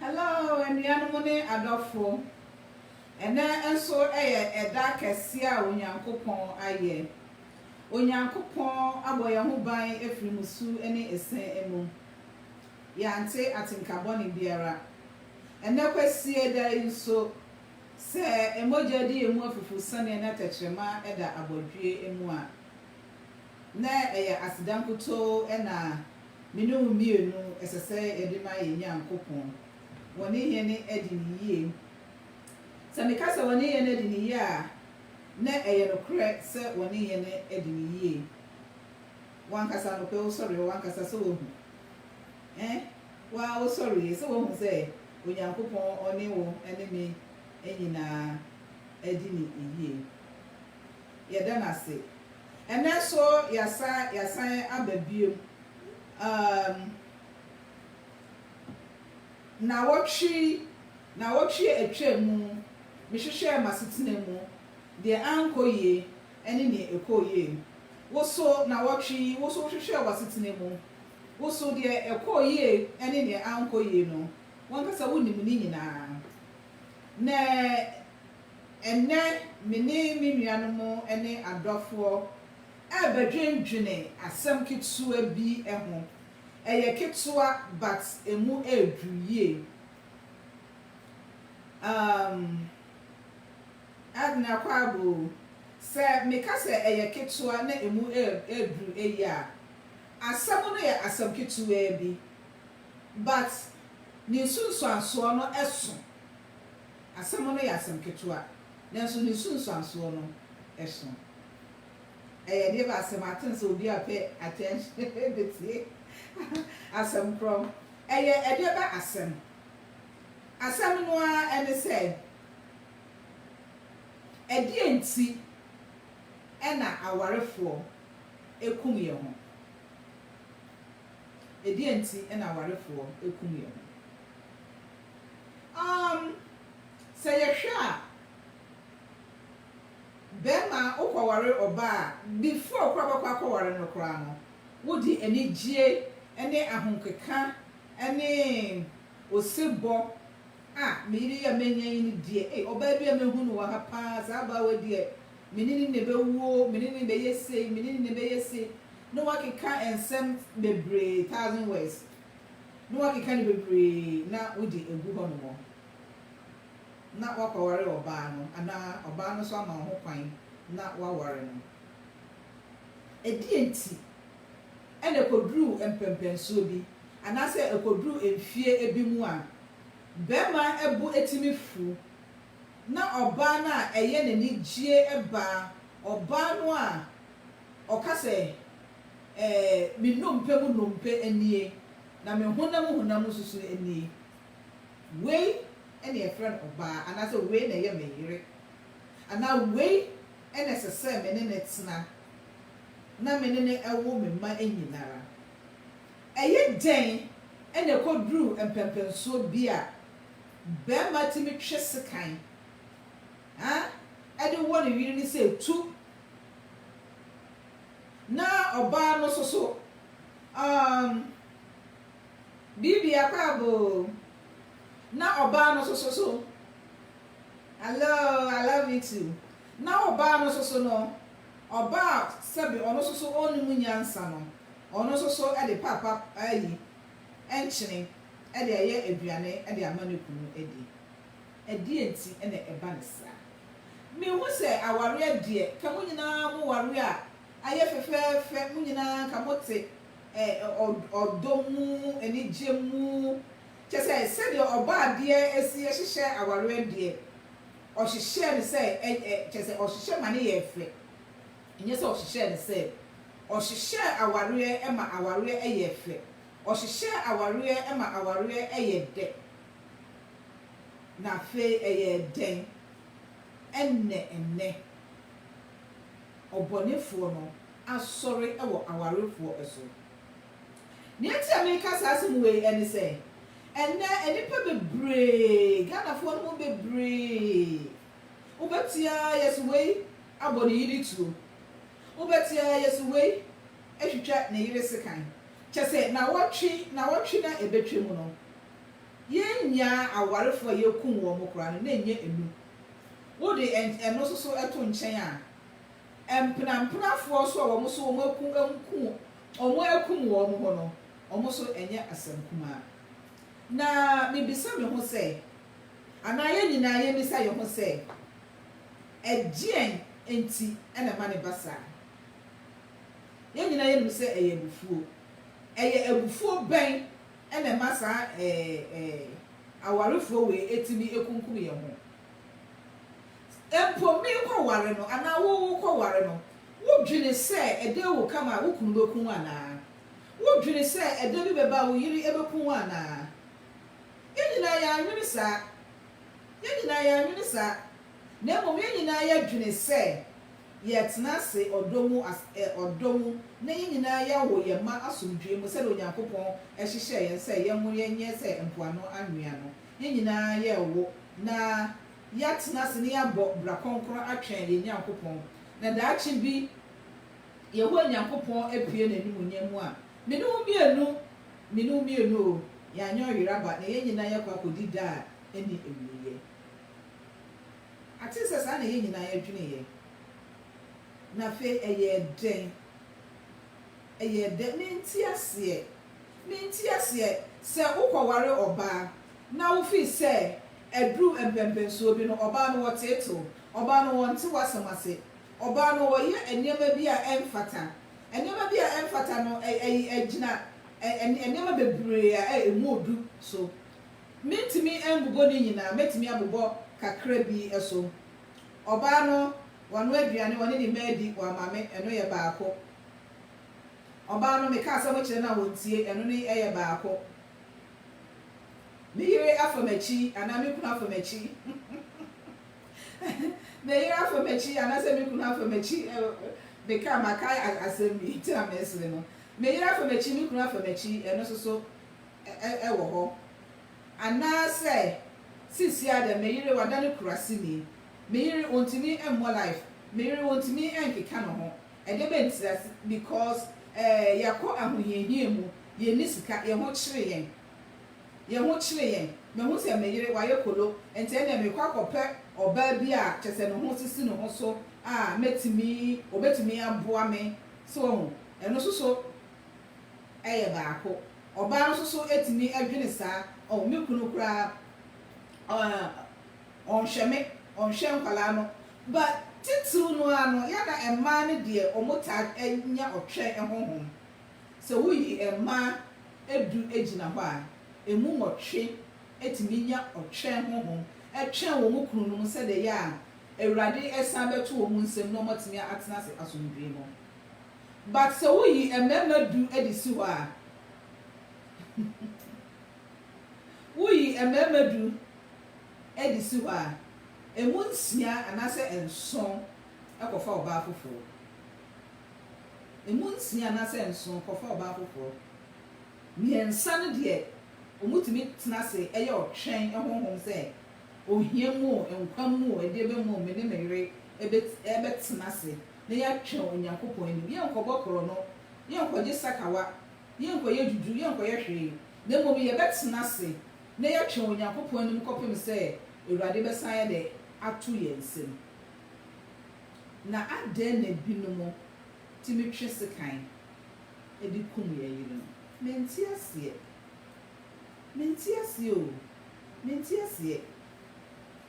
Hello, anuanom ne adɔfo. Ɛnɛ nso yɛ ɛda kɛseɛ a Onyankopɔn ayɛ. Onyankopɔn abɔ yɛn ho ban afiri musu ne ɛsɛn mu. Yɛante atenka bɔne biara. Ɛnɛ kwasie da yi nso, sɛ mogya di yɛn mu afufu sɛdeɛ na tɛkyerɛma da abɔdweɛ mu a, Ná ɛyɛ aseda nkutoo na me ne wo mmienu ɛsɛ sɛ yɛde ma yɛn Nyankopɔn. Wɔne yɛn adi no yie. Sɛ meka sɛ wɔne yɛn adi no yie a, na ɛyɛ nokorɛ sɛ wɔne yɛn adi no yie. Wo ankasa anɔpa yi wosɔreeɛ, w'ankasa sɛ woahu ɛ? Wo ara wosɔreeɛ sɛ woahu sɛ Onyankopɔn ɔne wo ne me nyinaa adi no yie. Yɛda no ase. Ɛnnɛ nso yɛasa yɛasan aba biom. Um, nnawɔtwe nnawɔtwe a atwam mu mehwehwɛɛ m'asetena mu deɛ ankɔ yie ɛne nea ɛkɔɔ yie. Wo so nnawɔtwe yi, wo nso wohwehwɛɛ w'asetena mu. Wo nso deɛ ɛkɔɔ yie ɛne nea ankɔ yie no, w'ankasa wonim ne nyinaa. Na Ɛnnɛ, me ne me nuanom ne adɔfoɔ rebɛdwendwene asɛm ketewa bi ho. Ɛyɛ ketewa but ɛmu ɛreduru yie. Um, Edna Quabu, sɛ meka sɛ ɛyɛ ketewa na ɛmu ɛreduru yie a, asɛm no yɛ asɛm ketewaa bi but ne nsunsuansoɔ no ɛso Asɛm no yɛ asɛm ketewa, nanso ne nsunsuansoɔ no so. Ɛyɛ deɛ baasɛ mate nsɛ obi a pay attention bɛtie asɛm korɔ. Ɛyɛ ɛdeɛ bɛ asɛm? Asɛm no ara ɛne sɛ, ɛdeɛn nti ɛna awarefoɔ ɛkum yɛ ho? Ɛdeɛn nti ɛna awarefoɔ ɛkum yɛ ho? Um, sɛ yɛhwɛ a, barima a wokɔware ɔbaa a, before koraa wobɛkɔ akɔware no koraa no, wode anigyeɛ ne ahokeka ne osebɔ a, me yere yi a manya yi no deɛ, ei, ɔbaa bi a mahu no wɔ ha paa, saa ɔbaa wei deɛ, me ne no na ɛbɛwuo, me ne no na ɛbɛyɛ sei, me ne no na ɛbɛyɛ sei, na woakeka nsɛm bebree, thousand words, na woakeka no bebree na wode agu hɔnom na woakɔware ɔbaa no anaa ɔbaa no nso ama wo ho kwan na woaware no. Ɛdeɛn nti na ɛkɔduru mpɛnpɛnsoɔ bi anaasɛ ɛkɔduru mfeɛ bi mu a barima bo tumi fu na ɔbaa no a ɛyɛ n'anigyeɛ ba ɔbaa no a ɔka sɛ, ɛɛ, me nnompe mu nnompe nie, na me honam mu honam mu susuo nie. Wei na yɛfrɛ no ɔbaa, anaasɛ wei na ɛyɛ me yere, anaa wei na ɛsɛ sɛ me ne no tena, na me ne no wo me mma nyina ara. Ɛyɛ dɛn na ɛkɔduru mpɛnpɛnsoɔ bi a barima tumi twe sekan a ɛde wɔ ne yere no sɛ tu, Na ɔbaa no soso um biribiara koraa boo. Na ɔbaa no soso so. Hello, I love you too. Na ɔbaa no soso no, ɔbaa sɛbi ɔno soso ɔnum nyansa no, ɔno soso de paapa ayi nkyene de ayɛ aduane de ama ne kunu adi. Ɛdeɛn nti na ɛba no saa? Mehu sɛ awareɛ deɛ ka mo nyinaa mo ware a ayɛ fɛfɛɛfɛ, mo nyinaa ka mote ɛ ɔ ɔdɔ mu, anigye mu, kyerɛ sɛ sɛdeɛ ɔbaa deɛ ɛsi hyehyɛ awareɛ deɛ ɔhyehyɛɛ no sɛ ɛ ɛ kyerɛ sɛ ɔhyehyɛ ma no yɛ fɛ, ɛnyɛ sɛ ɔhyehyɛɛ no sɛ ɔhyehyɛɛ awareɛ ma awareɛ yɛ fɛ, ɔhyehyɛɛ awareɛ ma awareɛ yɛ dɛ. Na afei ɛyɛɛ dɛn? Ɛnnɛ nnɛ, ɔbɔnefoɔ no asɔre wɔ awarefoɔ so. Nea enti a mereka saa asɛm wei ne sɛ, ɛnnɛ nnipa bebree, Ghanafoɔ no mu bebree, wobɛte ara yɛse wei abɔ ne yere tuo, wobɛte ara yɛse wei atwitwa ne yere sekan, kyɛsɛ nawɔtwe nawɔtwe no a ɛbɛtwam no, Yɛn nuaa awarefo a yɛkum wɔn koraa no, na ɛnyɛ nnum. Wode ɛno nso so to nkyɛn a, mpenampenafoɔ nso a wɔn nso wɔakum wɔakum wɔn ho no, wɔn nso ɛnyɛ asɛm kumaa. Na mebisa me ho sɛ, anaa yɛn nyinaa yɛmmisa yɛn ho sɛ, ɛdeɛn nti na ɛma no ba saa? Yɛn nyinaa yɛnim sɛ ɛyɛ abufuo. Ɛyɛ abufuo bɛn Ɛna ɛma saa ɛɛ awarefoɔ wei ɛtumi ɛkunkum yɛn ho. Mpo me kɔ ware no anaa wo wo kɔ ware no, wo dwene sɛ ɛdɛ wo kama a wo kunu bɛku wo anaa? Wo dwene sɛ ɛdɛ bi bɛba a wo yere ɛbɛku wo anaa? Yɛn nyinaa yɛn anwene saa. Yɛn nyinaa yɛn anwene saa. Na mmom yɛn nyinaa yɛ dwene sɛ. Yɛtena ase ɔdɔ mu as ɛ ɔdɔ mu, na yɛn nyinaa yɛwo yɛn mma asomdwoe mu sɛdeɛ Onyankopɔn hyehyɛɛ yɛn sɛ yɛnwo yɛn nyɛ sɛ mpoano anwea no. Yɛn nyinaa yɛrewo na yɛatena ase na yɛabɔ bra kronkron atwɛn yɛn Nyankopɔn. Na daakye bi Yehowa Nyankopɔn apue n'animuonyam mu a, me ne wo mmienu, me ne wo mmienu o, yɛanyɛ ɔyeraba na yɛn nyinaa yɛakɔ akɔdi da a ɛnni awieɛ. Ate sɛ saa na yɛn nyinaa yɛdweneeɛ. Na afei ɛyɛɛ dɛn? Ɛyɛɛ dɛn? Mente aseɛ. Mente aseɛ. Sɛ wokɔware ɔbaa na wofii sɛ aduru mpɛmpɛnsoɔ bi no, ɔbaa no wɔteetew, ɔbaa no wɔnte w'asɛm ase, ɔbaa no wɔyɛ nneɛma bi a ɛmfata. Nneɛma bi a ɛmfata no, ɛyi, ɛgyina nneɛma bebree a ɛmu yɛ du so. Mentumi mbobɔ ne nyinaa, mɛtumi abobɔ kakra bi so. Ɔbaa no, wanoa aduane, ɔne ne mma adi, wama me, ɛno yɛ baako. Ɔbaa no, meka asɛm kyerɛ no a ɔntie, ɛno no yɛ baako. Me yere afa m'akyi, anaa me kunu afa m'akyi, me yere afa m'akyi, anaasɛ me kunu afa m'akyi, meka, maka asɛm bi, nti na meresere no. Me yere afa m'akyi, me kunu afa m'akyi, ɛno nso so, wɔ hɔ, anaasɛ sisi ara dɛ me yere wada no kurasini, me yere ontumi mmɔ life, me yere ontumi nkeka no ho, ɛdɛ bɛn nti a, because eh yɛakɔ ahohiahia mu, yɛnni sika, yɛn ho kyere yɛn, yɛn ho kyere yɛn, mahu sɛ me yere wayɛ kolo, nti ɛnneɛ merekɔ akɔpɛ ɔbaa bi a kyerɛ sɛ ne ho sisi ne ho so a mɛtumi, ɔbɛtumi aboa me, so wahu, ɛno nso so yɛ baako. Ɔbaa no nso so tumi dwene saa, Oh, me kunu koraa, ɔh, ɔnhwɛ me, ɔnhwɛ nkwadaa no. But titiriw no ara no, yɛ na mmaa no deɛ wɔtaa nya ɔtwɛn honhom. Sɛ woyi mmaa du gyina hɔ a, ɛmu nwɔtwe tumi nya ɔtwɛn honhom twɛn wɔn kununom sɛdeɛ ɛyɛ a Awurade san bɛto wɔn nsam na wɔatumi atena ase asomdwoeɛ mu. But sɛ wo yi mmarima du de si hɔ a wo yi mmarima du de si hɔ a ɛmu nsia anaasɛ nson kɔfa ɔbaa foforɔ ɛmu nsia anaasɛ nson kɔfa ɔbaa foforɔ mmiɛnsa no deɛ wɔn tumi tena ase ɛyɛ ɔtwɛn ɛhonhom sɛ ohia mu o nkwa mu o ɛdeɛ bɛ mu o me ne me yere ɛbɛ ɛbɛ tena ase na yɛatwɛn Onyankopɔn anim. Yɛrenkɔbɔ korɔno, yɛrenkɔgye sakawa, yɛrenkɔyɛ dwudwo, yɛrenkɔyɛ hwee, na mmom yɛbɛtena ase na yɛatwɛn Onyankopɔn anim kɔpem sɛ Awurade bɛsan ayɛ dɛ ato yɛn nsam. Na adɛn na binom tumi twe sekan de kum yɛn yerenom? Mente aseɛ. Mente aseɛ o. Mente aseɛ.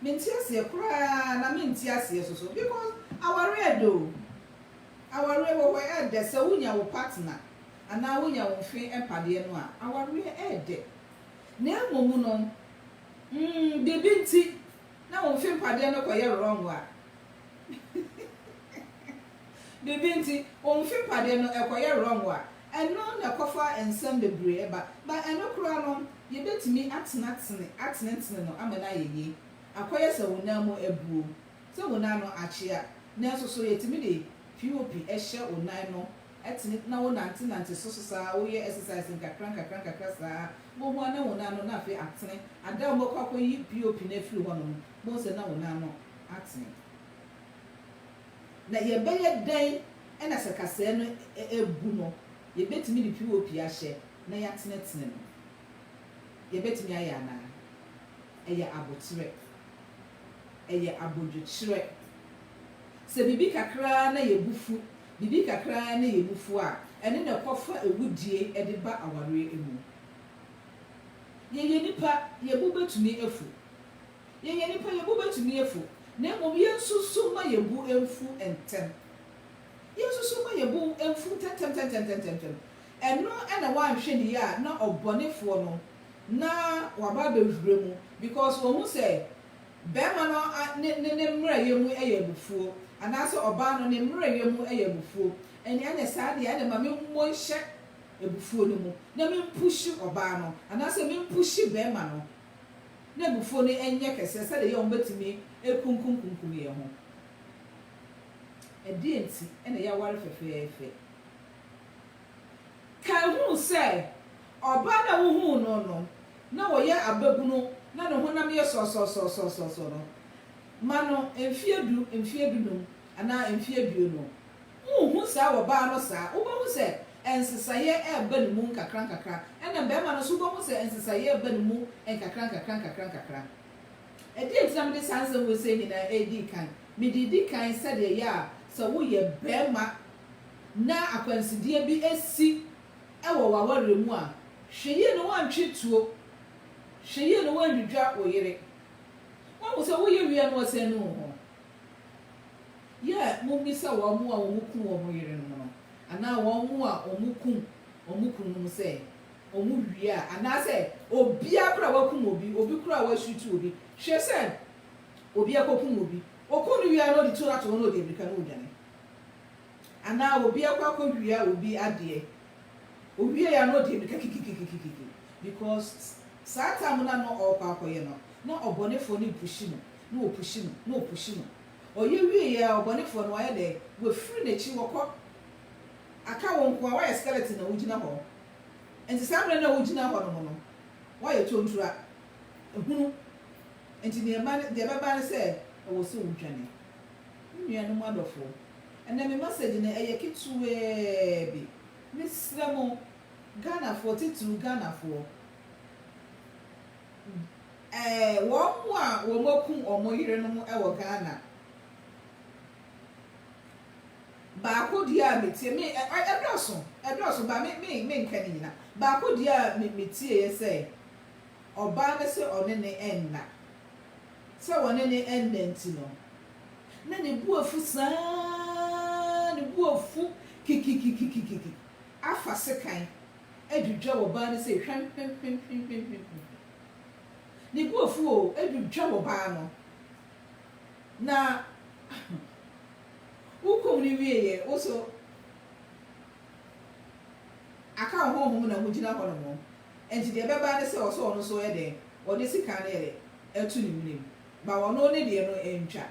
Mente aseɛ koraa na mente aseɛ soso because awareɛ ɛdɛ o awareɛ wɔ hɔ ɛdɛ sɛ wo nya wo partner anaa wo nya wo mfe mpadeɛ no a awareɛ ɛdɛ na ɛmom no mm biribi nti na wo mfe mpadeɛ no kɔ yɛ wrong a biribi nti wo mfe mpadeɛ no ɛkɔ yɛ wrong a Ɛno na ɛkɔfa nsɛm bebree ba. Ba ɛno koraa no, yɛbɛtumi atenatene, atenetene no ama no ayɛ yie. Akɔyɛ sɛ wo nan mu abuo, sɛ wo nan no akyea. Nanso so yɛtumi de POP hyɛ wo nan no tene na wo nantenante so so saa, wo yɛ exercise nkakra nkakra nkakra saa, wo ho ana wo nan no na afei atene. Ada a wo bɛkɔ akɔyi POP no afiri hɔ nom, wobɛhu sɛ na wo nan no atene. Na yɛbɛyɛ dɛn na sɛ kasaɛ no abu no, yɛbɛtumi de POP ahyɛ na yɛatenetene no? Yɛbɛtumi ayɛ anaa? Ɛyɛ aboterɛ. Ɛyɛ abodwokyerɛ. Sɛ biribi kakra ara na yɛn bo fu, biribi kakra ara na yɛn bo fu a, ɛno na ɛkɔfa awudie de ba awareɛ mu. Yɛyɛ nnipa, yɛn bo bɛtumi afu. Yɛyɛ nnipa, yɛn bo bɛtumi afu, na mmom yɛnsusu mma yɛn bo mfu ntɛm. Yɛnsusu mma yɛn bo mfu ntɛmntɛmntɛmntɛmntɛmntɛm. Ɛno na wanhwɛ no yie a na ɔbɔnefoɔ no na waba abɛwura mu because wahu sɛ barima no ne ne ne mmerɛyɛ mu yɛ abufuo anaasɛ ɔbaa no ne mmerɛyɛ mu yɛ abufuo. Ɛnneɛ anyɛ saa deɛ ɛnneɛ ma memmɔ nhyɛ abufuo no mu na mempushe ɔbaa no anaasɛ mempushe barima no n'abufuo no nyɛ kɛseɛ sɛdeɛ ɛyɛ a wɔbɛtumi akunkumkunkum yɛn ho. Ɛdeɛn nti na yɛaware fɛfɛɛfɛ? Kan hu sɛ ɔbaa no a wohuu no no na ɔyɛ ababunu na ne honam yɛ sɔsɔsɔsɔsɔ no, ma no mfeɛ du, mfeɛ dunum anaa mfeɛ aduonu. Wonhu saa wɔ baa no saa. Wobɛhu sɛ nsesaeɛ reba ne mu nkakrankakra, ɛna mmarima no nso wobɛhu sɛ nsesaeɛ reba ne mu nkakrankakra nkakrankakra. Ɛdeɛ nti na mede saa nsɛm wei sei nyinaa redi kan? Mede redi kan sɛdeɛ ɛyɛ a sɛ woyɛ barima na akwansideɛ bi si wɔ w'awareɛ mu a, hwɛ yie na woantwe tuo, hwɛ yie na woannwidwa wo yere. Woahu sɛ woyɛ wie a na woasane anu wo ho. Yɛ mummisa wɔn a wɔkum wɔn yerenom no anaa wɔn a wɔkum wɔn kununom sɛ wɔwie a, anaasɛ obiara koraa a wakum obi, obi koraa a wasutu obi, hwɛ sɛ obi akokum obi, okum no wie a na ɔde tuo no ato hɔ na ɔdi amirika na ɔredwane, anaa obi akɔ akɔwia obi adeɛ, owiei a na ɔdi amirika kikikikikiki, because saa time no a na ɔrekɔ akɔyɛ no, na ɔbɔnefoɔ no repushi no, Na wɔpushi no, na wɔpushi no. Ɔyɛ wieeɛ a, ɔbɔnefoɔ no, wayɛ dɛn? Wafiri n'akyi, wakɔ. Aka wo nko ara, woayɛ skeleton na wogyina hɔ. Enti saa berɛ no a wogyina hɔ nom no, woayɛ tontura. Hunu. Enti deɛ ɛba ne, deɛ ɛbɛba ne sɛ, ɛwɔ sɛ wodwane. Me nuanom adɔfoɔ, ɛnnɛ me masɛgye no, ɛyɛ ketewaa bi. Mesrɛ mo, Ghanafoɔ, titiriw Ghanafoɔ. Wɔn a wɔakum wɔn yerenom wɔ Ghana. Baako deɛ a metie, me, ɛdɔɔso, ɛdɔɔso ba me, me, menka ne nyina. Baako deɛ a me, metieɛ sɛ, ɔbaa no sɛ ɔne ne ɛnna. Sɛ wɔne ne ɛnna nti no, na ne bo afu saa, ne bo afu kikikikikiki afa sekan. Adwudwa ɔbaa no sei hwamhwamhwamhwamhwamhwam. Ne bo afu oo, adwudwa ɔbaa no. Na wokum no wieeɛ, wo nso aka wo honhom na wogyina hɔnom. Enti deɛ ɛbɛba ne sɛ ɔsɛ ɔno nso yɛ dɛn? Ɔde sekan no yɛ dɛn? Ɛto ne menem. But ɔno ne deɛ no ɛntwa.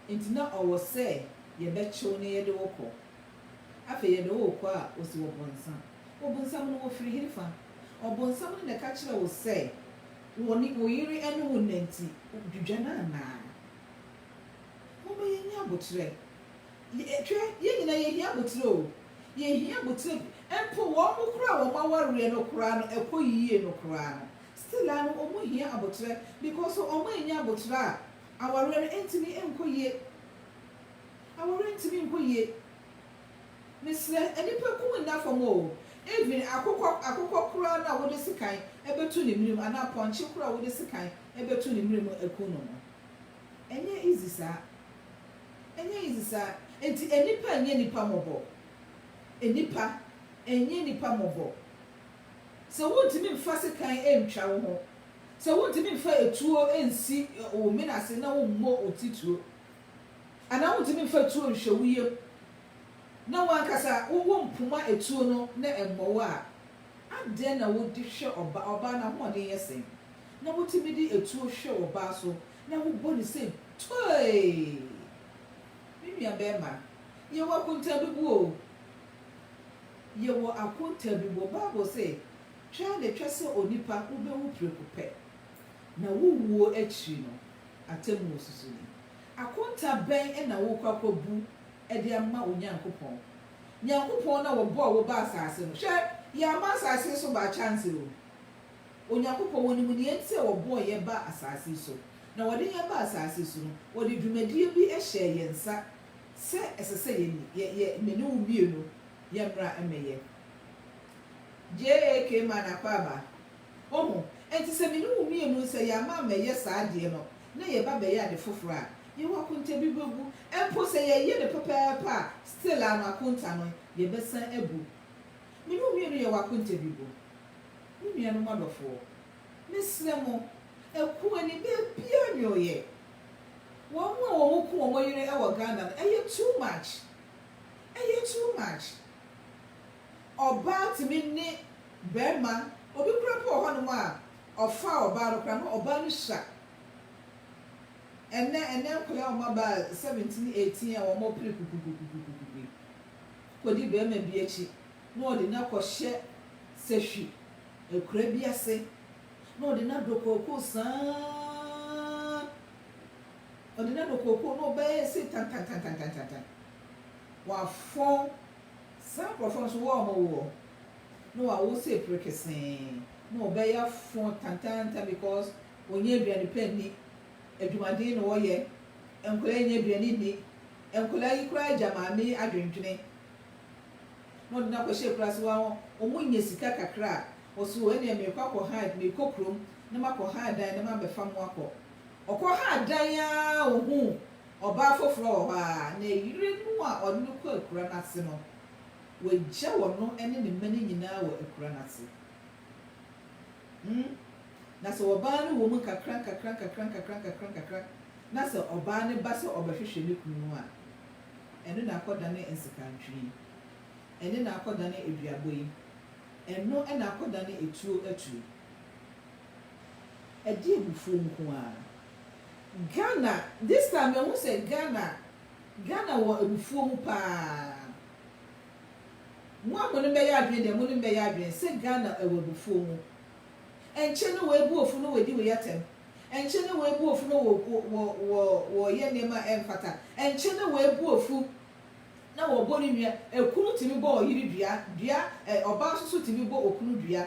Enti na ɔwɔ sɛ yɛbɛkyew na yɛde wo kɔ. Afei yɛ dɛ ookua a osi wɔ bɔnsam. Obnsam no wɔ fir henfa? Ɔbonsam no na ɛka kyerɛ wo sɛ wɔ ne wo yere ɛne wo nna nti dwudwa no anaa? Momma yɛnyɛ aboterɛ. Hwɛ, yɛn nyinaa yɛhia aboterɛ o. Yɛhia aboterɛ mpo wɔn mo koraa a wɔn awareɛ no koraa no ɛkɔ yie no koraa no still ara no wɔn hia aboterɛ because wɔn annya aboterɛ a awareɛ no ntumi nkɔ yie. A Worentumi nko yie. Mesrɛ, nnipa kum nna fam o, even akokɔ akokɔ koraa no a wode sekan bɛtu ne mene mu anaa pɔnkye koraa a wode sekan bɛtu ne mene mu aku no no, ɛnyɛ easy saa. Ɛnyɛ easy saa. Enti nnipa nyɛ nnipa mmɔbɔ. Nnipa nyɛ nnipa mmɔbɔ. Sɛ wontumi mfa sekan ntwa wo ho, sɛ wontumi mfa atuo nsi wo mene ase na wommɔ wo titire, anaa wontumi mfa tuo nhwɛ wo yam, na w'ankasa wowɔ mpoma atuo no na ɛmmɔ wo a, adɛn na wode hwɛ ɔbaa? Ɔbaa n'ahoɔden yɛ sɛn na wotumi de atuo hwɛ ɔbaa so na wobɔ no sɛ toe? Me nuabarima, yɛwɔ akontaabiboɔ o. Yɛwɔ akontaabiboɔ. Bible se, Twa na twa sɛ onipa, wobɛwu preko pɛ. na wo wuo akyiri no, atemmu nsusu ni. Akonta bɛn na worekɔ akɔbu de ama Onyankopɔn? Nyankopɔn no a ɔbɔɔ wo baa asase no, hwɛ, yɛama asase so by chance o. Onyankopɔn, ɔnim nea enti sɛ ɔbɔɔ yɛ baa asase yi so. Na ɔde yɛ baa asase yi so no, ɔde dwumadie bi hyɛɛ yɛn nsa sɛ ɛsɛ sɛ yɛ yɛ yɛ me ne wo mmienu yɛmmra mmɛyɛ. JAK. Manakwaba. Oho. Enti sɛ me ne wo mmienu nsa yi ama ammɛyɛ saa adeɛ no, na yɛba abɛyɛ ade foforɔ a, yɛwɔ akontabi bɛbu. Mpo sɛ yɛyɛ no pɛpɛɛpɛ a, still a no akonta no, yɛbɛsan abu. Me ne wo mmienu yɛwɔ akontabi bu. Me nuanom adɔfoɔ, mesrɛ mo, ɛko ani baabiara nnyɔeɛ. Wɔn a wɔn ku wɔn yere wɔ Ghana no, ɛyɛ too much. Ɛyɛ too much. Ɔbaa tumi ne barima, obi koraa mpo wɔ hɔnom a ɔfa ɔbaa no koraa na ɔbaa no hyia. Ɛnnɛ, ɛnnɛ nkwadaa a wɔabaa seventeen, eighteen a wɔpere kukukukukukuku kɔdi barima bi akyi na wɔde no akɔhyɛ sahwi akuraa bi ase na wɔde no adɔ kookoo saa ara, wɔde no adɔ kookoo na ɔbaa yi ɛsei tantantantantantantan, wɔafɔn Saa nkorɔfoɔ nso wɔn a wɔn woɔ na wɔn awoɔ sɛ epire kesee na wɔn bɛya foɔ tantaanta because wɔn nya aduane pa nni, adwumaden na wɔn yɛ, nkwadaa yi nya aduane nni, nkwadaa yi koraa gya maame yi adwendwene na wɔde no akɔ hyɛ kura ase wɔn a wɔn nya sika kakra a wɔse o ɛneɛ meekɔ akɔ ha meekɔ kurom na makɔ ha dan na mabɛfa mo akɔ, ɔkɔ ha dan aa ohuu Ɔbaa foforɔ wɔ hɔ ara, na ɛyere no a ɔne no kɔ akura no ase no, wɔagya ɔno ne ne mma no nyinaa wɔ akura no ase. Hmm. Na sɛ ɔbaa no wɔ mu nkakra nkakra nkakra nkakra nkakra nkakra, na sɛ ɔbaa no ba sɛ ɔbɛhwehwɛ ne kunu no a, ɛno na akɔdane nsekantwe yi, ɛno na akɔdane aduabɔ yi, ɛno na akɔdane atuo atu yi. Ɛde abufuo nko ara. Ghana this time mahu sɛ Ghana Ghana wɔ abufuo mu paa. Mo a mo ne mmɛyɛ adwene deɛ mo ne mmɛyɛ adwene sɛ Ghana ɛwɔ abufuo mu. Ɛnkyɛ na wei bu ofu na wadi wei atɛm. Ɛnkyɛ na wei bu ofu na wɔ wɔ wɔ wɔyɛ nneɛma a ɛmfata. Ɛnkyɛ na wei bu ofu na wɔbɔ ne nua. Ɛkunu tumi bɔ ɔyere dua dua ɛ ɔbaa nso so tumi bɔ okunu dua.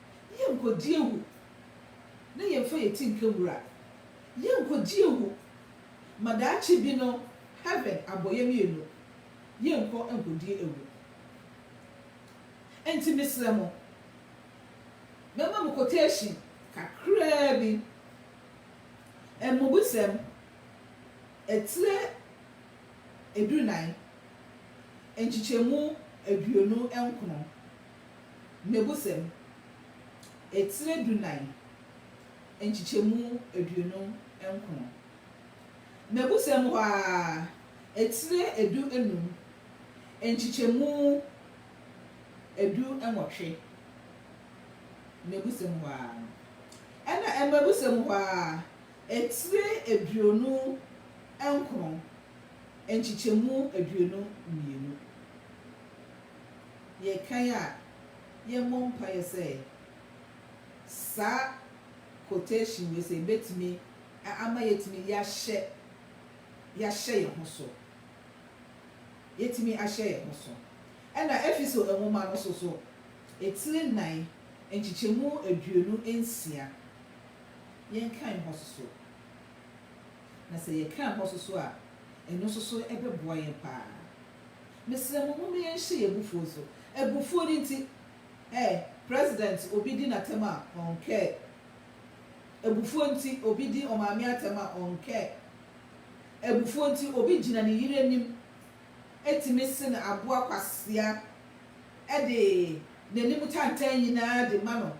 Yɛnkɔdi awu na yɛmfa yɛn ti nka wura. Yɛnkɔdi awu ma daakye bi no heaven abɔ yɛn mmienu yɛnkɔ nkɔdi awu. Ɛnti mesrɛ mo, mɛma mo quotation kakraa bi, Mmubusɛm, etire edunan, nkyekyɛmu aduonu nkron. Mmebusɛm, etire dunan, nkyekyɛmu aduonu nkron. Mmebusɛm hɔ ara, etire edu nnum, nkyekyɛmu edu nwɔtwe. Mmebusɛm hɔ ara. Ɛna mmebusɛm hɔ ara, etire aduonu nkron, nkyekyɛmu aduonu mmienu. Yɛkae a, yɛmmɔ mpaeɛ sɛ saa quotation wei sɛ ɛbɛtumi ama yɛatumi yɛahyɛ yɛahyɛ yɛn ho so. Yɛatumi ahyɛ yɛn ho so. Ɛna Efeso nwoma no nso so, etire nnan, nkyekyɛmu aduonu nsia, yɛnkan hɔ nso so. Na sɛ yɛkan hɔ nso so a, ɛno nso so ɛbɛboa yɛn pa ara. Mesrɛ mo momma yɛnhyɛ yɛn abufuo so. Abufuo no nti ɛ, President obi di n'atɛm a, ɔnkɛ. Abufuo nti obi di ɔmaame atɛm a, ɔnkɛ. Abufuo nti obi gyina ne yere anim tumi se no aboa kwasea de n'anim tantan nyinaa de ma no,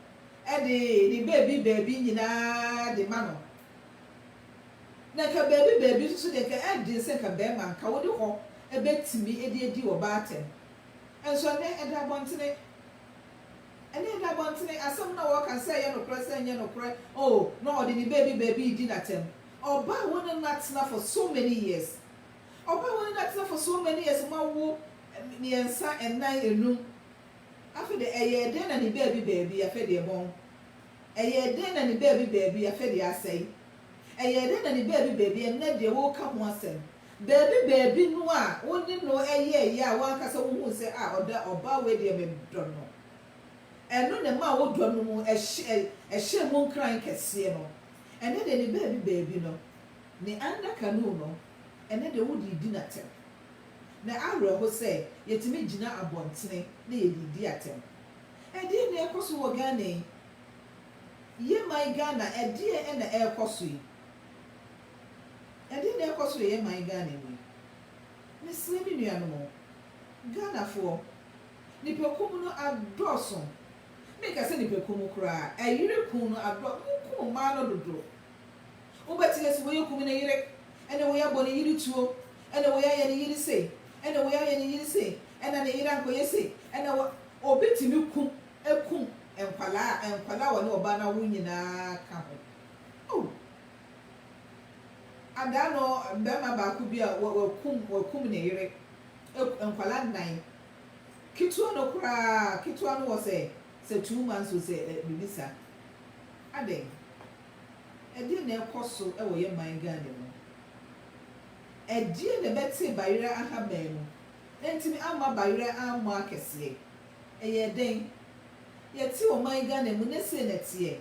de ne baabi baabi nyinaa de ma no. Na nka baabi baabi nso so deɛ nka ɛyɛ den sɛ nka barima nka wode hɔ bɛtumi de adi ɔbaa atɛm. Nso ɛnnɛ ɛda abɔntene. Ɛnnɛ ɛda abɔntene. Asɛm no a wɔka sɛ ɛyɛ nokorɛ sɛ ɛnyɛ nokorɛ, oh na ɔde ne baabi baabi redi no atɛm. Ɔbaa a wo ne no atena for so many years. Ɔbaa a wo ne no atena for so many years, moawo mmiɛnsa, nnan, nnum. Afei deɛ ɛyɛɛ dɛn na ne baabi baabi, afei deɛ bɔn. Ɛyɛɛ dɛn na ne baabi baabi afɛ deɛ asɛe? Ɛyɛɛ dɛn na ne baabi baabi ɛnnɛ deɛ woreka ho asɛm? Baabi baabi no a wo ne no yɛeɛ a w'ankasa wohuu sɛ ah ɔda ɔbaa wei deɛ medɔ no. Ɛno na ɛmaa wo dɔ no mu ɛhyɛɛ mu nkran kɛseɛ no. Ɛnnɛ deɛ ne baabi baabi no, ne under canoe no, ɛnnɛ deɛ wode redi no atɛm. Na awerɛho sɛ yɛtumi gyina abɔntene na yɛde redi atɛm. Ɛdeɛn na ɛrekɔ so wɔ Ghana yi? Yɛ man Ghana ɛdeɛn na ɛrekɔ so yi? Ɛdeɛn na ɛrekɔ so wɔ yɛ man Ghana mu yi? Mesrɛ me nuanom o, Ghanafoɔ, nipakuo mu no adɔɔso, menka sɛ nipakuo mu koraa, ɛyere ku no adɔ, moku mmaa no dodo. Wobɛte ase wei aku me ne yere, ɛna wei abɔ ne yere tuo, ɛna wei ayɛ ne yere sei, ɛna wei ayɛ ne yere sei, ɛna ne yere ankɔyɛ sei, ɛna wɔ. Obi tumi ku kum nkwadaa a nkwadaa a wɔne ɔbaa no awo nyinaa ka ho. Oh! Adaa no barima baako bi a wa wakum wakum ne yere ak nkwadaa nnan. Ketewa no koraa ketewa no wɔ sɛ sɛ two months o sɛ ɛ biribi saa. Adɛn? Ɛdeɛn na ɛkɔ so wɔ yɛ man Ghana mu? Ɛdeɛn na ɛbɛte Bayerɛ ahaban mu? antumi amma bayerɛ ammɔ akɛseɛ. Ɛyɛɛ dɛn? Yɛte ɔman Ghana mu ne sei na ɛteɛ.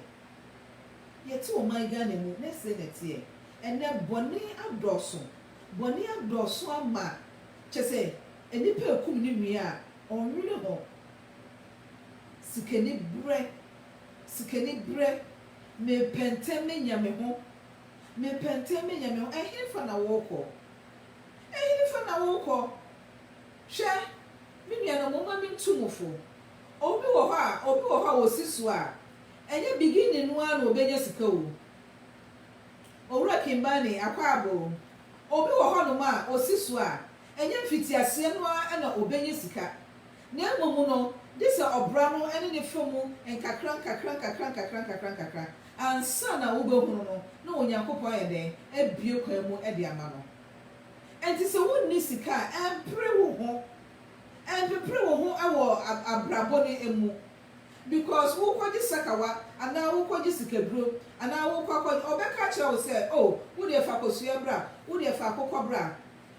Yɛte ɔman Ghana mu ne sei na ɛteɛ. Ɛnnɛ bɔne adɔɔso. Bɔne adɔɔso ama kyerɛ sɛ nnipa ɛkum ne nua a ɔnnwene ho. Sikani berɛ, sikani berɛ, mepɛntɛm menya me ho, mepɛntɛm menya me ho. Ɛhefa na worekɔ? Ehefa na worekɔ? Hwɛ, me nuanom, momma mintu mo fo. Obi wɔ hɔ a, obi wɔ hɔ a osi so a, ɛnyɛ beginning no ara na obenya sika o. Owura Kimbani, Akwaaba o. Obi wɔ hɔnom a, osi so a, ɛnyɛ mfitiaseɛ no ara na obenya sika. Na mmom no, gye sɛ ɔbra no ne ne fa mu nkakrankakra, nkakrankakra, nkakrankakra, ansa na wobɛhunu no, na Onyankopɔn ayɛ dɛn? Abue kwan mu de ama no. Enti sɛ wonni sika a, ɛmpere wo ho. Ɛmpepere wo ho wɔ abrabɔ no mu. Because worekɔgye sakawa, anaa worekɔgye sikaduro, anaa worekɔ akɔ, ɔbɛka akyerɛ wo sɛ, Oh, wo deɛ fa akosua bra, wo deɛ fa akokɔ bra.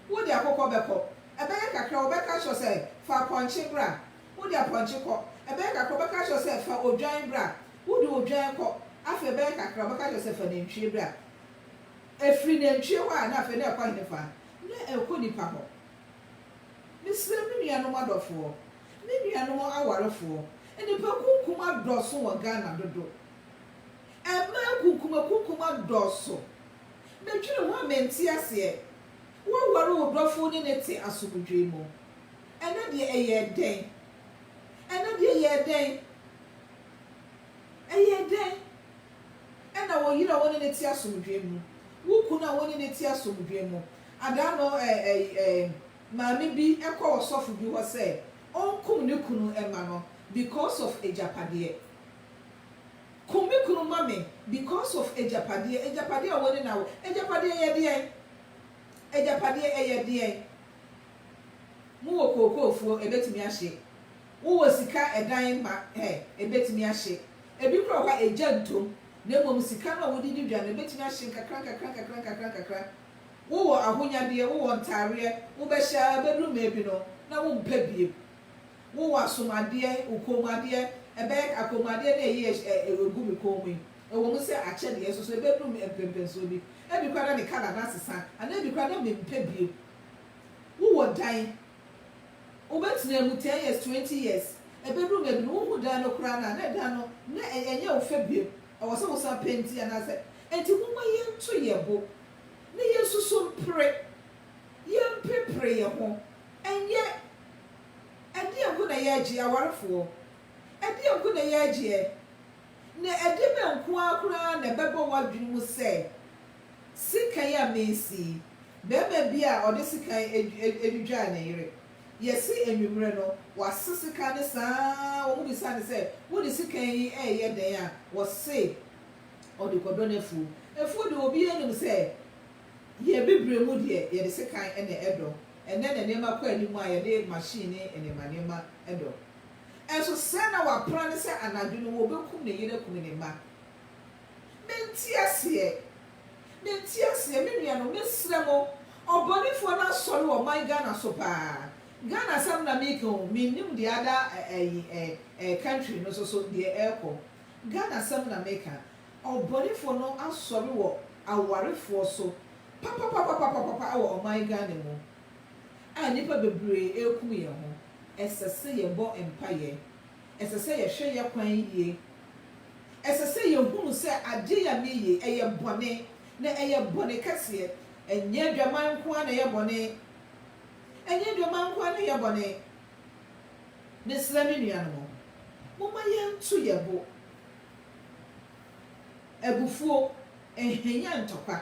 Wo de akokɔ bɛkɔ. Ɛbɛyɛ kakra wɔbɛka akyerɛ wo sɛ, Fa apɔnkye bra. Wo de apɔnkye kɔ. Ɛbɛyɛ kakra wɔbɛka akyerɛ wo sɛ, Fa odwan bra. Wo de odwan kɔ. Afei ɛbɛyɛ kakra wɔbɛka akyerɛ wo sɛ, Fa nantwie bra. Ɛfiri nantwie hɔ a, na afei na ɛkɔ henefa? Na ɛkɔ nipa hɔ. Mesrɛ me nuanom adɔfoɔ, me nuanom awarefoɔ, nnipakunkum adɔɔso wɔ Ghana dodo. Mmaa nkunkumakunkum adɔɔso. Medwene ho a mente aseɛ. Woaware wo dɔfo ne no te asomdwoe mu. Ɛnɛ deɛ ɛyɛɛ dɛn? Ɛnɛ deɛ ɛyɛɛ dɛn? Ɛyɛɛ dɛn? Ɛna wo yere a wo ne no te asomdwoe mu, wo kunu a wo ne no te asomdwoe mu, adaano ɛ ɛ ɛ maame bi kɔ ɔsɔfo bi hɔ sɛ ɔnkum ne kunu mma no because of agyapadeɛ. Kum me kunu ma me because of agyapadeɛ, agyapadeɛ a wɔne no awo, agyapadeɛ yɛ deɛn? Agyapadeɛ ɛyɛ deɛn? Mowɔ kookoo fuo, ɛbɛtumi ahye. Wowɔ sika ɛdan mma ɛ, ɛbɛtumi ahye. Ɛbi koraa wɔ hɔ a ɛgya ntom, na mmom sika no a wode di dwa no ɛbɛtumi ahye nkakra nkakra nkakra nkakra nkakra. Wowɔ ahonyadeɛ, wowɔ ntaareɛ, wobɛhyɛ ara bɛduru mmaabi no na wompɛ bio. Wo wɔ asomadeɛ, wo kɔnmuadeɛ, ɛbɛyɛ ka kɔnmuadeɛ no ɛyɛ ɛ ɛ ɛregu me kɔn mu yi. Ɛwɔ mu sɛ akyɛdeɛ soso ɛbɛduru me mprɛnprɛnsoɔ bi. Ɛbi koraa na ne colour no asesa anaa ɛbi koraa na mempɛ bio. Wo wɔ dan, wobɛtena mu ten years, twenty years, ɛbɛduru mmerɛ bi no wohu dan no koraa no a na dan no na ɛ ɛnyɛ wo fɛ bio. Ɛwɔ sɛ wo san penti anaasɛ. Ɛnti momma yɛnto yɛn bo na yɛnsusu mpere yɛmprepre yɛ ho nyɛ ɛdeɛ nko na yɛregyeɛ, awarefoɔ, ɛdeɛ nko na yɛregyeɛ, na ɛdeɛ bɛn nko ara koraa na ɛbɛba w'adwene mu sɛ sekan a mesi yi, barima bi a ɔde sekan adwidwaa ne yere, yɛse anwummerɛ no wase sekan no saa ara, wɔbisaa no sɛ wode sekan yi reyɛ dɛn a, ɔse ɔde kɔdɔ n'afuo, afuo deɛ obiara nim sɛ Yɛn Bibire mu deɛ, yɛde sekan na ɛdɔ. Ɛnnɛ na nneɛma kɔ anim a yɛde machine ne nneɛma nneɛma dɔ. Nanso sɛn na wapra no sɛ anadwo no wɔbɛkum ne yere akum ne mma? Mente aseɛ! Mente aseɛ! Me nuanom, mesrɛ mo, ɔbɔnefoɔ no asɔre wɔ ɔman Ghana so pa ara. Ghana asɛm na mereka o, mennim deɛ ada ɛ, ayi ɛ, ɛ, country no nso so deɛ ɛrekɔ. Ghana asɛm na mereka. Ɔbɔnefoɔ no asɔre wɔ awarefoɔ so papapapapapapa wɔ ɔman Ghana mu a nnipa bebree rekum yɛn ho. Ɛsɛ sɛ yɛbɔ mpaeɛ. Ɛsɛ sɛ yɛhwɛ yɛ kwan yie. Ɛsɛ sɛ yɛhunu sɛ adeɛ yi a meeye ɛyɛ bɔne na ɛyɛ bɔne kɛseɛ. Ɛnyɛ adwaman nko ara na ɛyɛ bɔne. Ɛnyɛ adwaman nko ara na ɛyɛ bɔne. Mesrɛ me nuanom, momma yɛnto yɛn bo. Abufuo, ɛhwanyan ntɔkwa.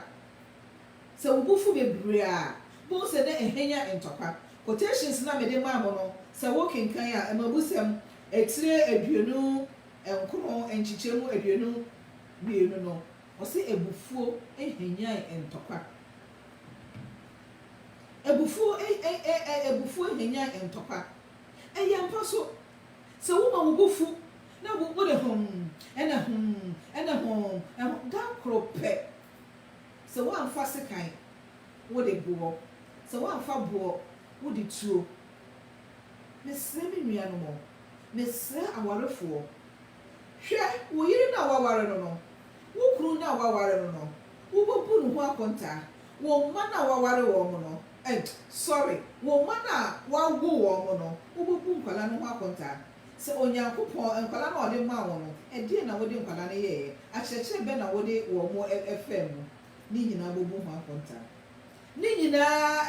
Sɛ wo bo fu bebree a, bohu sɛ na ɛhwanyan ntɔkwa. Quotations no a mede maa mo no, sɛ wokenkan a, mmebusɛm etire aduonu nkron, nkyekyɛmu aduonu mmienu no, ɔse abufuo hwanyan ntɔkwa. Abufuo, abufuo hwanyan ntɔkwa. Ɛyɛ ampa so. Sɛ woma wo bo fu na wo wode humm ɛna humm ɛna humm ɛho da koro pɛ, sɛ woamfa sekan wode boɔ, sɛ woamfa boɔ wode tuo. Mesrɛ me nuanom o, mesrɛ awarefoɔ, hwɛ wo yere no a woaware no no, wo kunu no a woaware no no, wobɛbu ne ho akontaa, wo mma no a woaware wɔn no, Ed, Sɔre. Wo mma no a woawo wɔn mo no, wobebu nkwadaa no ho akontaa? Sɛ Onyankopɔn, nkwadaa no a ɔde maa wo no, ɛdeɛn na wode nkwadaa no yɛeɛ? Akyerɛkyerɛ bɛn na wode wɔn mo faa mu? Ne nyinaa bɛbu ho akontaa. Ne nyinaa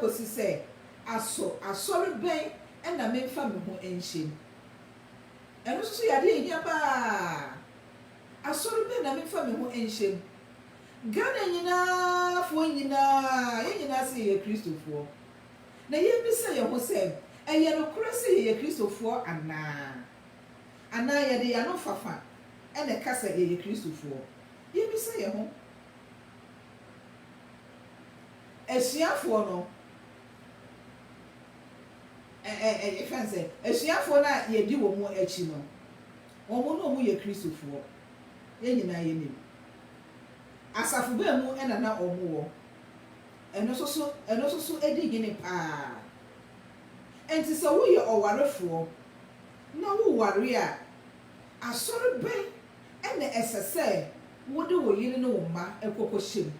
kɔsi sɛ, Aso asɔre bɛn na memfa me ho nhyem? Ɛno nso so yɛ adeɛ a ɛhia paa. Asɔre bɛn na memfa me ho nhyɛ mu? Ghana nyinaa foɔ nyinaa, yɛn nyinaa se yɛyɛ Kristofoɔ. Na yɛbisa yɛn ho sɛ, ɛyɛ nokorɛ sɛ yɛyɛ Kristofoɔ anaa? Anaa yɛde yɛn ano fafa na ɛka sɛ yɛyɛ Kristofoɔ? Yɛbisa yɛn ho. Asuafoɔ no, ɛ, ɛ, ɛ, yɛfrɛ no sɛ, asuafoɔ no a yɛdi wɔn akyi no, Wɔn na wɔyɛ Kristofoɔ. Yɛn nyinaa yɛnim. Asafo bɛn mu na na wɔwɔ? Ɛno nso so, ɛno nso so di hene pa ara. Enti sɛ woyɛ ɔwarefoɔ na woware a, asɔre bɛn na ɛsɛ sɛ wode wo yere ne wo mma kɔkɔhyɛ mu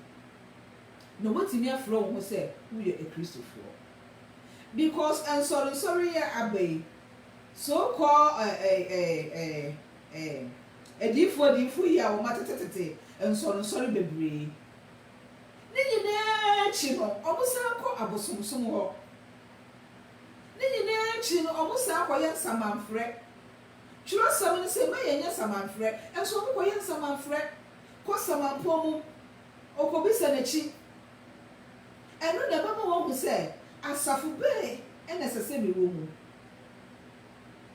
na woatumi afrɛ wo ho sɛ woyɛ Kristofoɔ? Because nsɔrensɔre yi a aba yi, So kɔ eh eh eh eh eh Adiyifoɔ adiyifoɔ yi a wɔn atetetete nsɔre nsɔre bebree Ne nyinaa akyi no wɔn san kɔ abosomsom hɔ Ne nyinaa akyi no wɔn san kɔyɛ nsamanfrɛ Twerɛsɛm no se ma yɛn nyɛ nsamanfrɛ nso wɔn kɔyɛ nsamanfrɛ Kɔ samanpɔn mu okɔbisa n'akyi Ɛno na ɛbɛma wɔahu sɛ asafo bɛn na ɛsɛ sɛ mewɔ mu.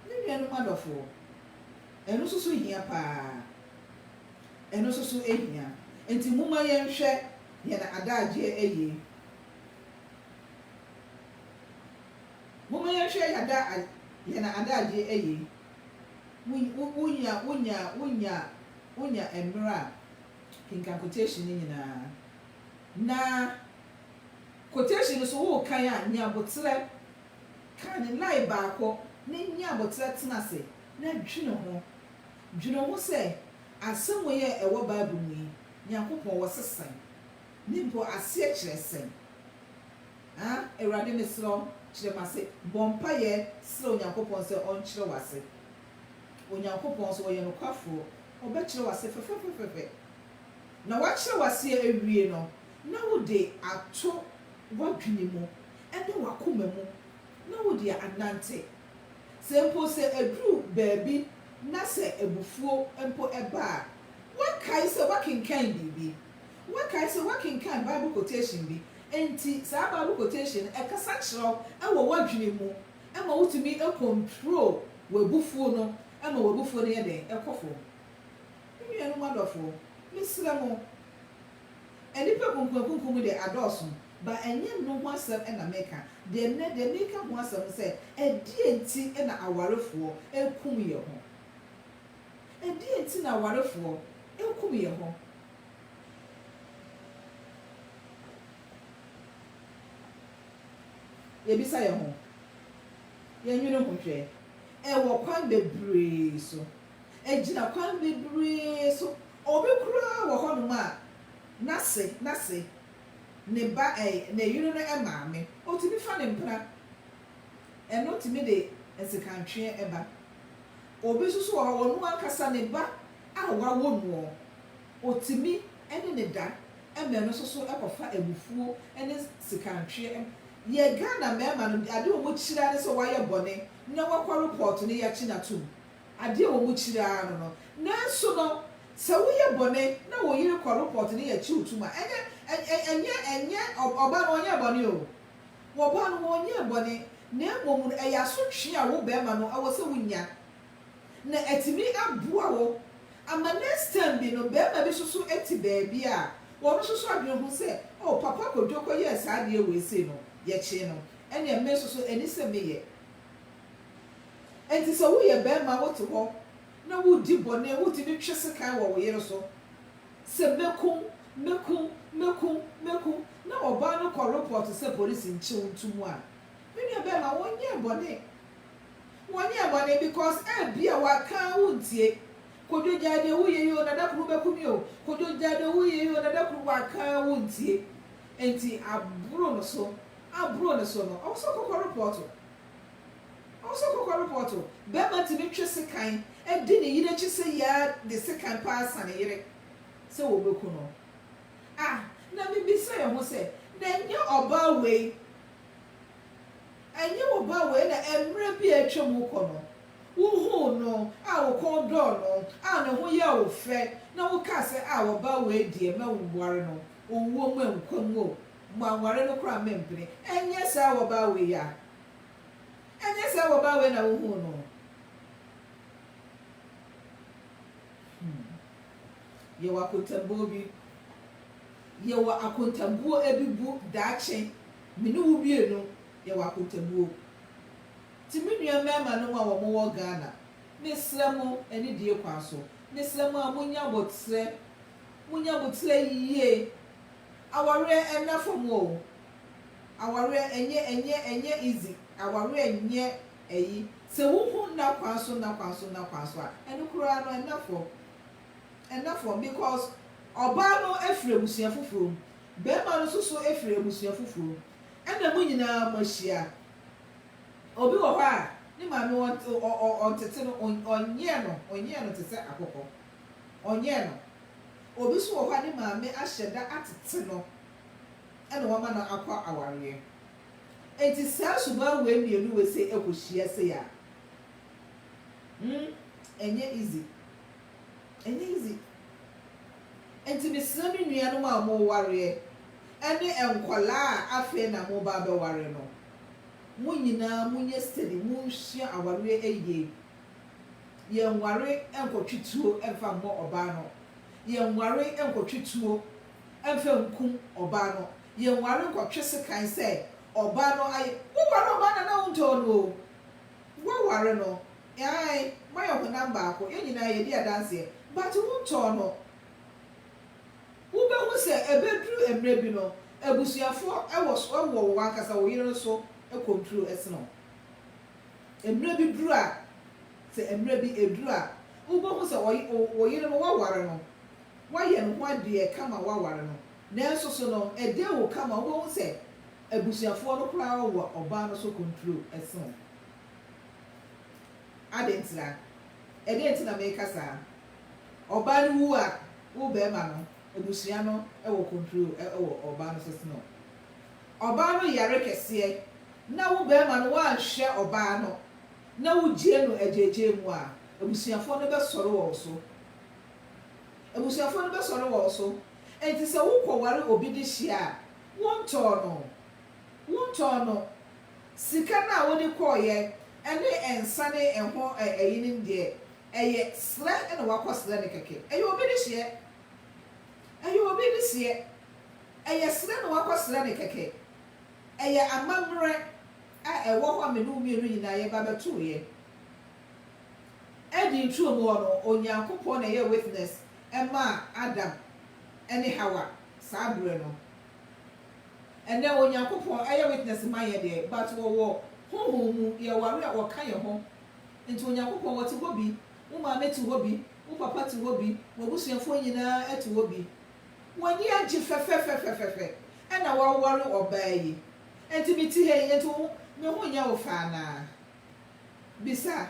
Me nuanom adɔfoɔ, ɛno nso so hia paa. Ɛno nso so hia. Enti momma yɛnhwɛ yɛn adagyeɛ yie. Momma yɛnhwɛ yɛn ada, yɛn adagyeɛ yie. Wo, wo, wonya, wonya, wonya, wonya mmerɛ a, kenkan quotation no nyinaa. Na quotation no so worekan a, nyi aboterɛ. Kan ne line baako na nyi aboterɛ tena ase na dwene ho. Dwene ho sɛ asɛm wei a ɛwɔ Bible mu yi, Nyankopɔn wɔ se sɛn? Ne mpo aseɛ kyerɛ sɛn? A, Awurade mesrɛ wo kyerɛ m'ase. Bɔ mpaeɛ srɛ Onyankopɔn sɛ ɔnkyerɛ w'ase. Onyankopɔn nso ɔyɛ nokwafoɔ, ɔbɛkyerɛ w'ase fɛfɛfɛfɛfɛ. na woakyerɛw ase awie no, na wode ato w'adwene mu ne w'akoma mu na wode anante. Sɛ mpo sɛ eduru baabi na sɛ abufuo mpo ba a, woakae sɛ woakenkan biribi. Woakae sɛ woakenkan Bible quotation bi. Enti saa Bible quotation no kasa kyerɛ wo wɔ w'adwene mu ma wotumi control w'abufuo no ma w'abufuo no yɛ dɛn? Ɛkɔ fam. Me nuanom adɔfoɔ, mesrɛ mo, nnipa kunkumakunkum mu deɛ adɔɔso, ba ɛnyɛ ɛno ho asɛm na meka, deɛ ɛnnɛ deɛ meka ho asɛm ne sɛ, ɛdeɛn nti na awarefoɔ rekum yɛ ho? Ɛdeɛn nti na awarefoɔ rekum yɛ ho? Yɛbisa yɛ ho, yɛnwene ho hwɛ, ɛwɔ kwan bebree so. Egyina kwan bebree so. Obi koraa wɔ hɔnom a, n'ase, n'ase, ne ba, ɛ, ne yere no maame, otumi fa ne mpena. Ɛno tumi de nsekantweɛ ba. Obi nso so wɔ hɔ, ɔno ankasa ne ba a wawo noɔ, otumi ne no da ma ɛno nso so kɔfa abufuo ne sekantweɛ. Yɛ Ghana mmarima no, adeɛ a wɔkyiri ara ne sɛ wayɛ bɔne na wakɔ report no, yɛakyi no atom. Adeɛ a wɔn kyiri ara no no. Nanso no, sɛ wo yɛ bɔne na wo yere kɔ report no yɛ kyew tum a, ɛnyɛ, ɛ, ɛnyɛ, ɛnyɛ ɔbaa no ɔnyɛɛ bɔne o. Wɔ baa no ɔnyɛɛ bɔne, na mmom no ɛyɛ asotwee a wo barima no ɛwɔ sɛ wo nya. Na atumi aboa wo ama next time bi no barima bi nso so ɛte baabi a ɔno nso so adwene ho sɛ oh papa Kwadwo kɔ yɛɛ saa adeɛ wei sei no yɛkyee no ɛneɛ me nso so ɛni sɛ me yɛ. Enti sɛ woyɛ barima a wote hɔ na woredi bɔne, wotumi twe sekan wɔ wo yere so sɛ, Mɛkum, mɛkum, mɛkum, mɛkum, na ɔbaa no kɔ repɔɔto sɛ polisi nkyɛ wo nto mu a, me nua barima, wonyɛɛ bɔne. Wonyɛɛ bɔne because ebia waka a wontie. Kwadwo gyae deɛ woyɛ yi o, Nana Kuru bɛku me o, Kwadwo gyae deɛ woyɛ yi o, Nana Kuru waka a wontie. Enti aboro no so, aboro no so no, ɔwɔ sɛ ɔkɔkɔ repɔɔto. Ɔsɔ kɔkɔ report o. Bɛɛma tumi twe sekan di ne yere akyi sɛ yɛ ara de sekan paa sa ne yere sɛ wɔbɛku no. Ah na me bisa yɛ ho sɛ na ɛnyɛ ɔbaa wei ɛnyɛ wo ba wei na ɛmmerɛ bi a atwa mu kɔ no wo huu no a wo kɔn dɔɔ no a ne ho yɛɛ wo fɛ na wo kaa sɛ ah ɔbaa wei deɛ mɛ ware no owuo mu a nkwa mu o. Moanware no koraa mempene. Ɛnyɛ saa wɔbaa wei ya? Ɛnyɛ saa wɔbaa wei na wohuu no? Hmm. Yɛwɔ akontambuo bi. Yɛwɔ akontambuo ebi bu daakye. Me ne wo bienu, yɛwɔ akontabuo. Nti me nua mmarima nom a wɔn wɔ Ghana, mesrɛ mo anidie kwan so, mesrɛ mo a monya abɔtrɛ Munya mo tiri ayi yie. Awareɛ ɛnna fam o. Awareɛ ɛnyɛ ɛnyɛ ɛnyɛ easy. Awareɛ nyɛ ɛyi. Sɛ wo hu nna kwan so nna kwan so nna kwan so a, ɛno koraa no ɛnna fam. Ɛnna fam because ɔbaa no ɛfiri abusua foforɔ mu, bɛɛma no nso so ɛfiri abusua foforɔ mu, ɛnna mo nyinaa mo ahyia. Obi wɔ hɔ a, ne maame ɔn ɔ ɔ ɔntete no, ɔn ɔnyɛ no ɔnyɛ no te sɛ akokɔ. ɔnyɛɛ no. Obi nso wɔ hɔ a ne maame ahyɛ da atete no na wama no akɔ awareɛ. Enti saa suban wei mmienu wei sei ɛkɔhyia sei a, hmm, ɛnyɛ easy. Ɛnyɛ easy. Enti mesrɛ me nuanom a mowareɛ ɛne nkwadaa a afei na moreba abɛware no, mo nyinaa monyɛ steady, monsua awareɛ yie. Yɛnnware nnkɔtwe tuo mfa mmɔ ɔbaa no. Yɛnnware nnkɔtwe tuo mfa nnkum ɔbaa no. Yɛnnware nnkɔtwe sekan sɛ ɔbaa no ayɛ. Woware ɔbaa no anaa wontɔɔ no oo, woaware no, aane, moayɛ honam baako, yɛn nyinaa yɛdi adanseɛ, but wontɔɔ no. Wobɛhu sɛ ɛbɛduru mmerɛ bi no, abusuafoɔ wɔ wɔ w'ankasa wo yere no so kɔnturo sene wo. Mmerɛ bi duru a, sɛ mmerɛ bi ɛduru a, wobɛhu sɛ wo yere no woaware no, woayɛ ne ho adeɛ kama woaware no, nanso so no ɛdee wo kama wobɛhu sɛ abusuafoɔ no koraa wɔ ɔbaa no so konturo sene wo. Adɛn ntira? Ɛdɛn nti na meka saa? Ɔbaa no wu a, wo barima no abusua no wɔ konturo wɔ ɔbaa no so sene wo. Ɔbaa no yare kɛseɛ na wo barima no woanhwɛ ɔbaa no na wogyee no agyaagyaa mu a, abusuafoɔ no bɛsɔre wɔ wo so. Abusuafoɔ no bɛsɔre wɔ wo so. Enti sɛ wokɔware obi de hyia a, wontɔɔ no. Wontɔɔ no. Sika no a wode kɔeɛ ɛne nsa ne ɛho ɛyinom deɛ, ɛyɛ serɛ na woakɔserɛ no kɛkɛ. Ɛyɛ obi de hyeɛ. Ɛyɛ obi de hyeɛ. Ɛyɛ srɛ na woakɔsrɛ no kɛkɛ. Ɛyɛ amammerɛ a ɛwɔ hɔ a me ne wo mmienu nyinaa yɛba bɛtoeɛ. Eden nturom hɔ no, Onyankopɔn na ɛyɛɛ witness maa Adam ne Hawa saa berɛ no. Ɛnnɛ Onyankopɔn yɛ witness ma yɛn deɛ, but ɔwɔ honhom mu, yɛware a ɔka yɛn ho. Nti Onyankopɔn ɔte hɔ bi, wo maame te hɔ bi, wo papa te hɔ bi, w'abusuafoɔ nyinaa te hɔ bi. W'ani agye fɛfɛfɛfɛfɛfɛ ɛna w'aware ɔbaa yi ɛnti me ti ha yi ɛnti woho me ho nyɛ wo fɛ anaa? Bisa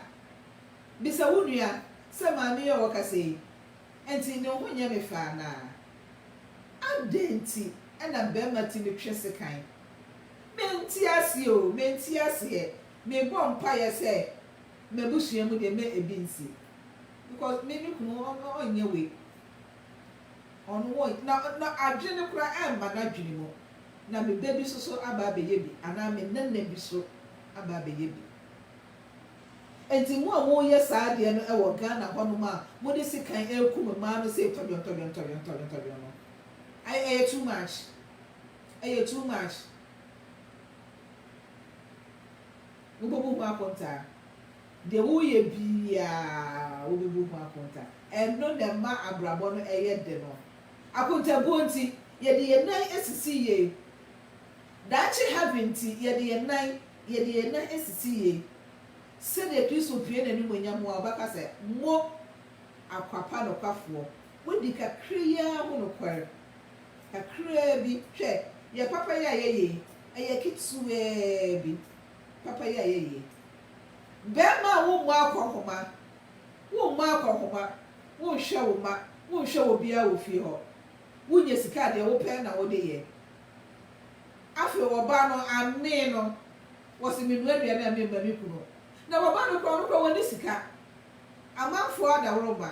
bisa wo nua sɛ maame yi a ɔkasa yi ɛnti ne ho nyɛ me fɛ anaa? Adɛn nti ɛna bɛɛma timi twe sekan? Me nte aseɛ oo me nte aseɛ me bɔ mpaeɛ sɛ m'abusua mu deɛ mɛ ɛbi nsi because me me kunu ɔnyɛ wei. Ɔno wɔ na na adwene no koraa ɛmma n'adwene mu. Na me ba bi nso so aba abɛyɛ bi anaa me nana bi so aba abɛyɛ bi. Enti mo a moyɛ saa deɛ no wɔ Ghana hɔnom a mode sekan rekum mmaa no sei tɔdwɔntɔdwɔntɔdwɔntɔdwɔntɔdwɔn no, ɛy ɛyɛ too much. Ɛyɛ too much. Mobɛbu ho akontaa. Deɛ woyɛ biaa wobebu ho akonta. Ɛno na ɛma abrabɔ no ɛyɛ de no. Akontabuo nti, yɛde yɛn nan asisi yei. Daakye heaven nti, yɛde yɛn nan, yɛde yɛn nan asisi yei. Sɛdeɛ Kristo pue n'animuonyam mu a ɔbɛka sɛ, Mo akwapa nokwafoɔ, moadi kakra yi ara ho nokware. Kakraa bi, hwɛ, yɛn papayɛ a yɛyɛ yi, ɛyɛ ketewaa bi. papa yi a ɛyɛ yie. Bɛɛma a wommɔ akɔnhoma, wommɔ akɔnhoma, wonhwɛ wo mma, wonhwɛ wɔ biaa wɔ fie hɔ, wonya sika a deɛ wopɛ na wode yɛ. Afei ɔbaa no amee no, wɔse menoa aduane a memma me kunu. Na wɔbaa no koraa ɔno koraa wɔnni sika, amanfoɔ adaworoma,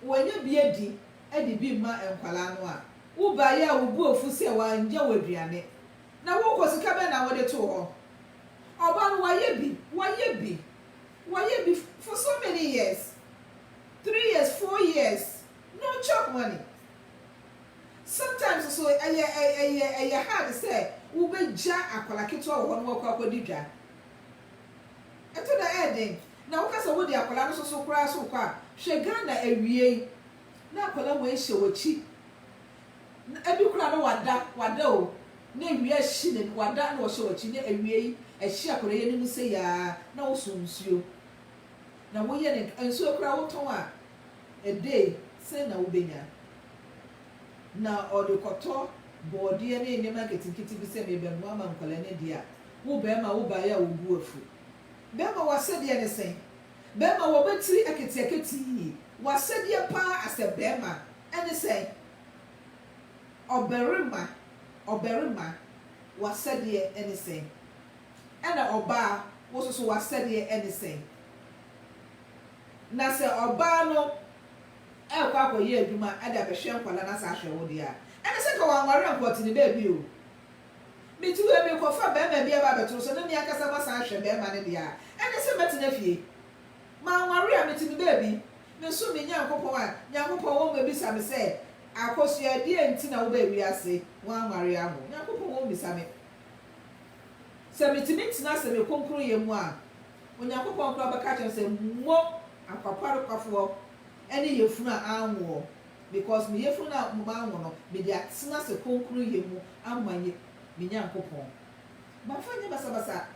wɔnya bi adi de bi mma nkwadaa no a, wobaeɛ a wobu afu sɛ wɔannya wo aduane. Na wo nkɔ sika bɛn na wo de too hɔ? Ɔba no wayɛ bi, wayɛ bi, wayɛ bi for so many years, three years, four years, no chop money. Sometimes nso ɛyɛ ɛyɛ ɛyɛ hard sɛ wo bɛ gya akwadaa ketewa wɔ hɔ na wakɔ akɔ di dwa. Ɛtɔ da ɛyɛ den. Na wo ka sɛ wo de akwadaa no soso koraa so rekɔ a, hwɛ Ghana awiei na akwadaa wei hyɛ wakyi. Na ebi koraa no wada, wada o, na awia ahyi na wada na ɔhyɛ w'akyi, na awiei ɛhye akwadaa yi anim sei ara na woso nsuo, na woyɛ ne nka, nsuo koraa wotɔn a, a day sɛn na wobɛnya? Na ɔde kɔtɔ bɔɔdeɛ ne nneɛma nketenkete bi sɛ merebɛnoa ama nkwadaa no adi a, wo barima wobaeɛ a wo bo afu. Barima w'asɛdeɛ ne sɛn? Bɛɛma wɔ bɛ tiri aketiaketii W'asɛdeɛ paa asɛ bɛɛma ɛne sɛ Ɔbɛrema ɔbɛrema W'asɛdeɛ ɛne sɛ Ɛna ɔbaa wo soso W'asɛdeɛ ɛne sɛ Na sɛ ɔbaa no ɛɛkɔ akɔ yɛ adwuma ɛde abɛhwɛ nkwadaa na saa hwɛ wo deɛ a Ɛne sɛ nka wanware anko ɔte ne baabi o. Mete hɔ yi merekɔfa barima bi aba abɛto nsa na me ankasa masan ahwɛ barima no deɛ a, ɛne sɛ mɛtena fie? Manware a mete me baabi, mesom me Nyankopɔn a, Nyankopɔn wɔ mu abisa me sɛ, Akosua, deɛn nti na wobaa wiase? Woanware aho? Nyankopɔn wɔ mu bisa me. Sɛ metumi tena ase me kronkronyɛ mu a, Onyankopɔn koraa bɛka akyerɛ me sɛ, Mo akwaparekwafoɔ ne yafunu a anwoɔ. Because me yafunu no a manwo no, mede atena ase kronkronyɛ mu ama Ye, me Nyankopɔn. Mamfa nyɛ basabasa.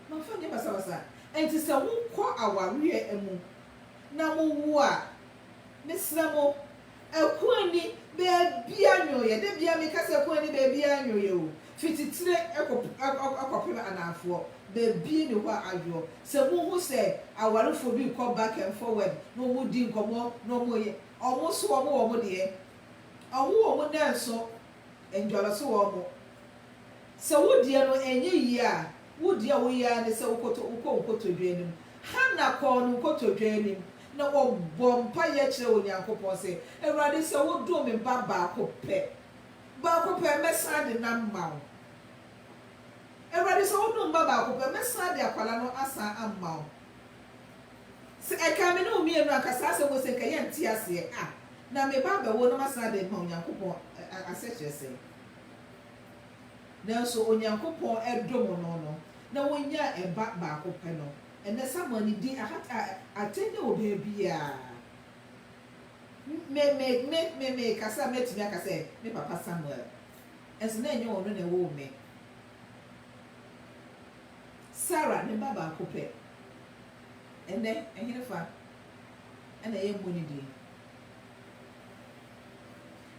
Mamfa nyɛ basabasa. Enti sɛ mokɔ awareɛ mu na mowo a, mesrɛ mo, ɛko nni baabiara nnwoeɛ. Da biara meka sɛ ɛko nni baabiara nnwoeɛ o. Fi titire kɔpem anaafoɔ, baabi nni hɔ a adwoɔ. Sɛ mohu sɛ awarefoɔ bi rekɔ back and forward na wɔredi nkɔmmɔ na wɔreyɛ, wɔn nso wɔwɔ wɔn deɛ, wɔwɔ wɔn nnanso ndwalo so wɔ wɔn. Sɛ wo deɛ no ɛnyɛ yie a, wo deɛ a woyɛ ara ne sɛ wokɔtɔ wokɔ wo nkotodwe anim. Hana kɔɔ ne nkotodwe anim na ɔbɔɔ mpaeɛ kyerɛɛ Onyankopɔn sɛ, Awurade, sɛ wodom me ba baako pɛ, Baako pɛ, mɛsan de nam mma wo. Awurade, sɛ wonom mma baako pɛ, mɛsan de akwadaa no asan amma wo. Sɛ ɛkaa me ne wo mmienu a, anka saa asɛm wei sɛ anka yɛnte aseɛ a, na meba abɛwo na masan de rema Onyankopɔn asɛkyerɛ sɛn? Nanso Onyankopɔn dom no no, na wɔnyaa ɛba baako pɛ no. Ɛnnɛ Samuel ne din ahata atɛn wɔ baabiara. Me, me, me, me, mekasa a, mɛtumi aka sɛ, Me papa Samuel. Nso na ɛnyɛ ɔno na ɛwoo me. Sara, ne ba baako pɛ. Ɛnnɛ, ɛhenefa na yɛmmɔ ne din?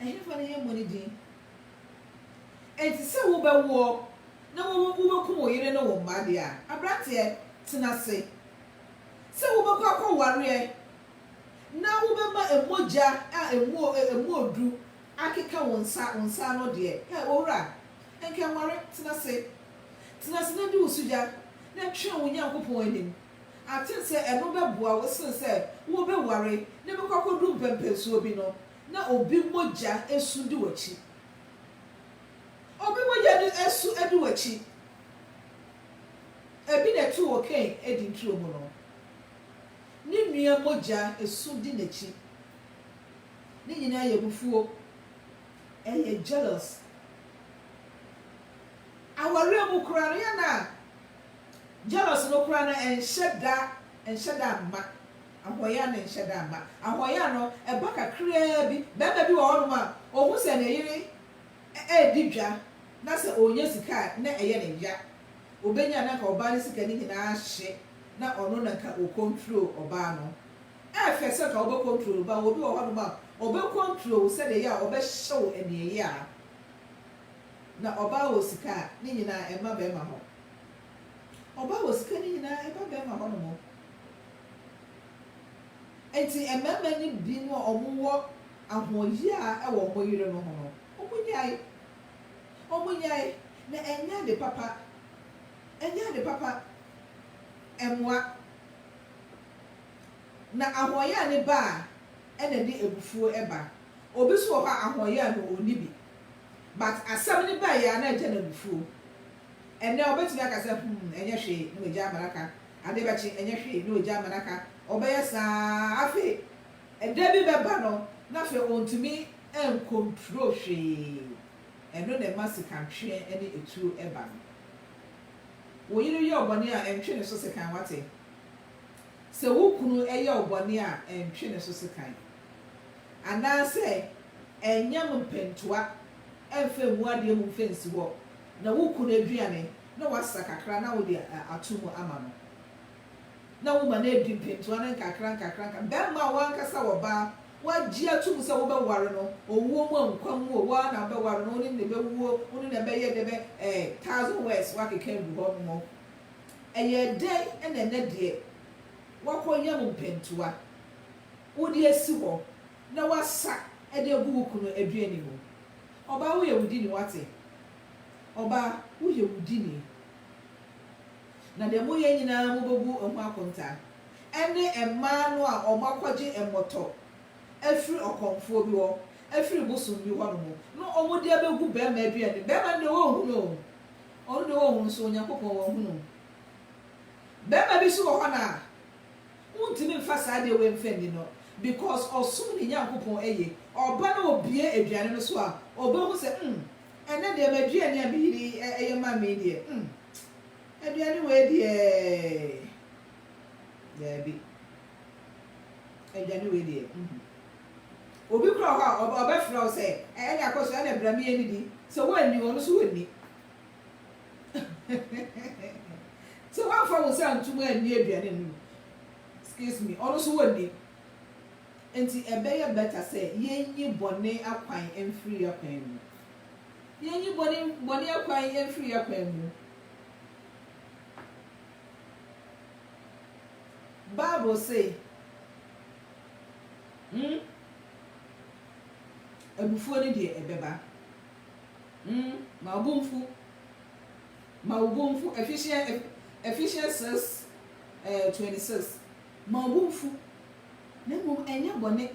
Ɛhenefa na yɛmmɔ ne din? Enti sɛ wobɛwoɔ na wo, wobɛkum wo yere ne wo mma deɛ a, aberanteɛ, tena ase. Sɛ wobɛkɔ akɔwareɛ. na wobɛma mogya a ɛmu ɛmu ɔduru akeka wo nsa, wo nsa ano deɛ, ɛ, owura, nka nware, tena ase, tena ase na di wo sugya, na twɛn wo Nyankopɔn anim, aten sɛ ɛno bɛboa wo sene sɛ wobɛware na bɛkɔ akɔduru mpɛnpɛnsoɔ bi no, na obi mogya asu di w'akyi. Obi mogya di asu adi w'akyi. Ɛbi na ɛto wɔ Kain Eden turo mu no. Ne nua mogya su di n'akyi. Ne nyinaa yɛ abufuo, ɛyɛ jealous. Awareɛ mu koraa no, yɛn a jealous no koraa no ɛnhyɛ da ɛnhyɛ da mma. Ahoyaa no ɛnhyɛ da mma. Ahoyaa no ɛba kakraa bi. Barima bi wɔ hɔnom a, ɔhu sɛ ne yere redi dwa na sɛ ɔrenya sika a, na ɛyɛ no ya. Ɔbɛnya a na anka ɔbaa no sika no nyinaa ahye na ɔno na ka o control ɔbaa no ɛfɛ sɛ ka wobɛ control no ba obi wɔ hɔ nom a ɔbɛ control wo sɛdeɛ ɛyɛ a ɔbɛ hyɛ wo aniɛyaa na ɔbaa wɔ sika a ne nyinaa ɛmma bɛɛma hɔ ɔbaa wɔ sika ne nyinaa ɛba bɛɛma hɔ nom ɛnti ɛmɛɛma ne bi no a ɔmo wɔ ahoɔyaa ɛwɔ ɔmo yere no ho no ɔmo nyae ɔmo nyae na ɛnyɛ ade papa. Ɛnyɛ ade papa mmoa. Na ahoɔyaa ne ba a ɛna ɛde abufuo ba. Obi nso wɔ hɔ a ahoɔyaa no ɔnni bi but asɛm no baeɛ a na ɛgya no abufuo. Ɛnnɛ ɔbɛtumi aka sɛ hmm ɛnyɛ hwee na wagyae ama no aka, adeɛ bɛkye ɛnyɛ hwee na wagyae ama no aka, ɔbɛyɛ saa afei ɛda bi bɛba no na afei ɔntumi ncontrol hwee. Ɛno na ɛma sikantweɛ ne ɛtuo ba no. Wo yere yɛ wo bɔne a, ntwe ne so sekan, woate? Sɛ wo kunu yɛ wo bɔne a, ntwe ne so sekan. Anaasɛ ɛnyɛ mo mpɛntoa mfa ngu adeɛ mu mfa nsi hɔ, na wo kunu aduane na woasa kakra na wode ato mu ama no. na woma no adi mpentoa no nkakrankakra. Nka barima a w'ankasa w'ɔbaa w'agye atom sɛ wobɛware no, owuo mu o, nkwa mu o, wo ara na wobɛware no, wo ne no na ɛbɛwuo, wo ne no na ɛbɛyɛ dɛ bɛ eh, thousand words w'akeka agu hɔ nom o. Ɛyɛɛ dɛn na ɛnɛ deɛ w'akɔ yam mpentoa wode asi hɔ na w'asa de agu wo kunu aduane mu. Ɔbaa woyɛ wo dini w'ate, ɔbaa woyɛ wo dini. Na deɛ moyɛ nyina ara mobɛbu ho akontaa, ɛne mmaa no a wɔakɔgye mmɔtɔ afiri ɔkɔmfoɔ bi hɔ, afiri bosom bi hɔ nom, na wɔde abɛgu barima aduane mu, barima no deɛ wɔnhunu o, ɔno deɛ wɔnhunu nso Onyankopɔn wahunu. Barima bi nso wɔ hɔ no a, wontumi mfa saa adeɛ wei mfa nni no, because ɔsom ne Nyankopɔn yie, ɔba na ɔbue aduane no so a, ɔbɛhu sɛ, mm, ɛnnɛ deɛ m'aduane a me yere yi yɛ ma me yi deɛ, mm. Aduane wei deɛ daabi. Aduane wei deɛ mm. Obi kora wɔ hɔ a ɔbɛ ɔbɛfrɛ wo sɛ ɛne akɔ so ɛne bra mie ne di. Sɛ woanni ɔno so ɔnni. sɛ woamfa wo nsa antum anni aduane no mu excuse me ɔno so ɔnni. Nti ɛbɛyɛ better sɛ yɛnyi bɔne akwan mfiri yɛn akwan mu. Yɛnyi bɔne bɔne akwan mfiri yɛn akwan mu. Bible se, mm, abufuo no deɛ ɛbɛba, mm, ma ɔbo mfu, ma wo bo mfu, Ephesians, Ephesians 6, eh, 26, ma ɔbo mfu, na mmom ɛnyɛ bɔne,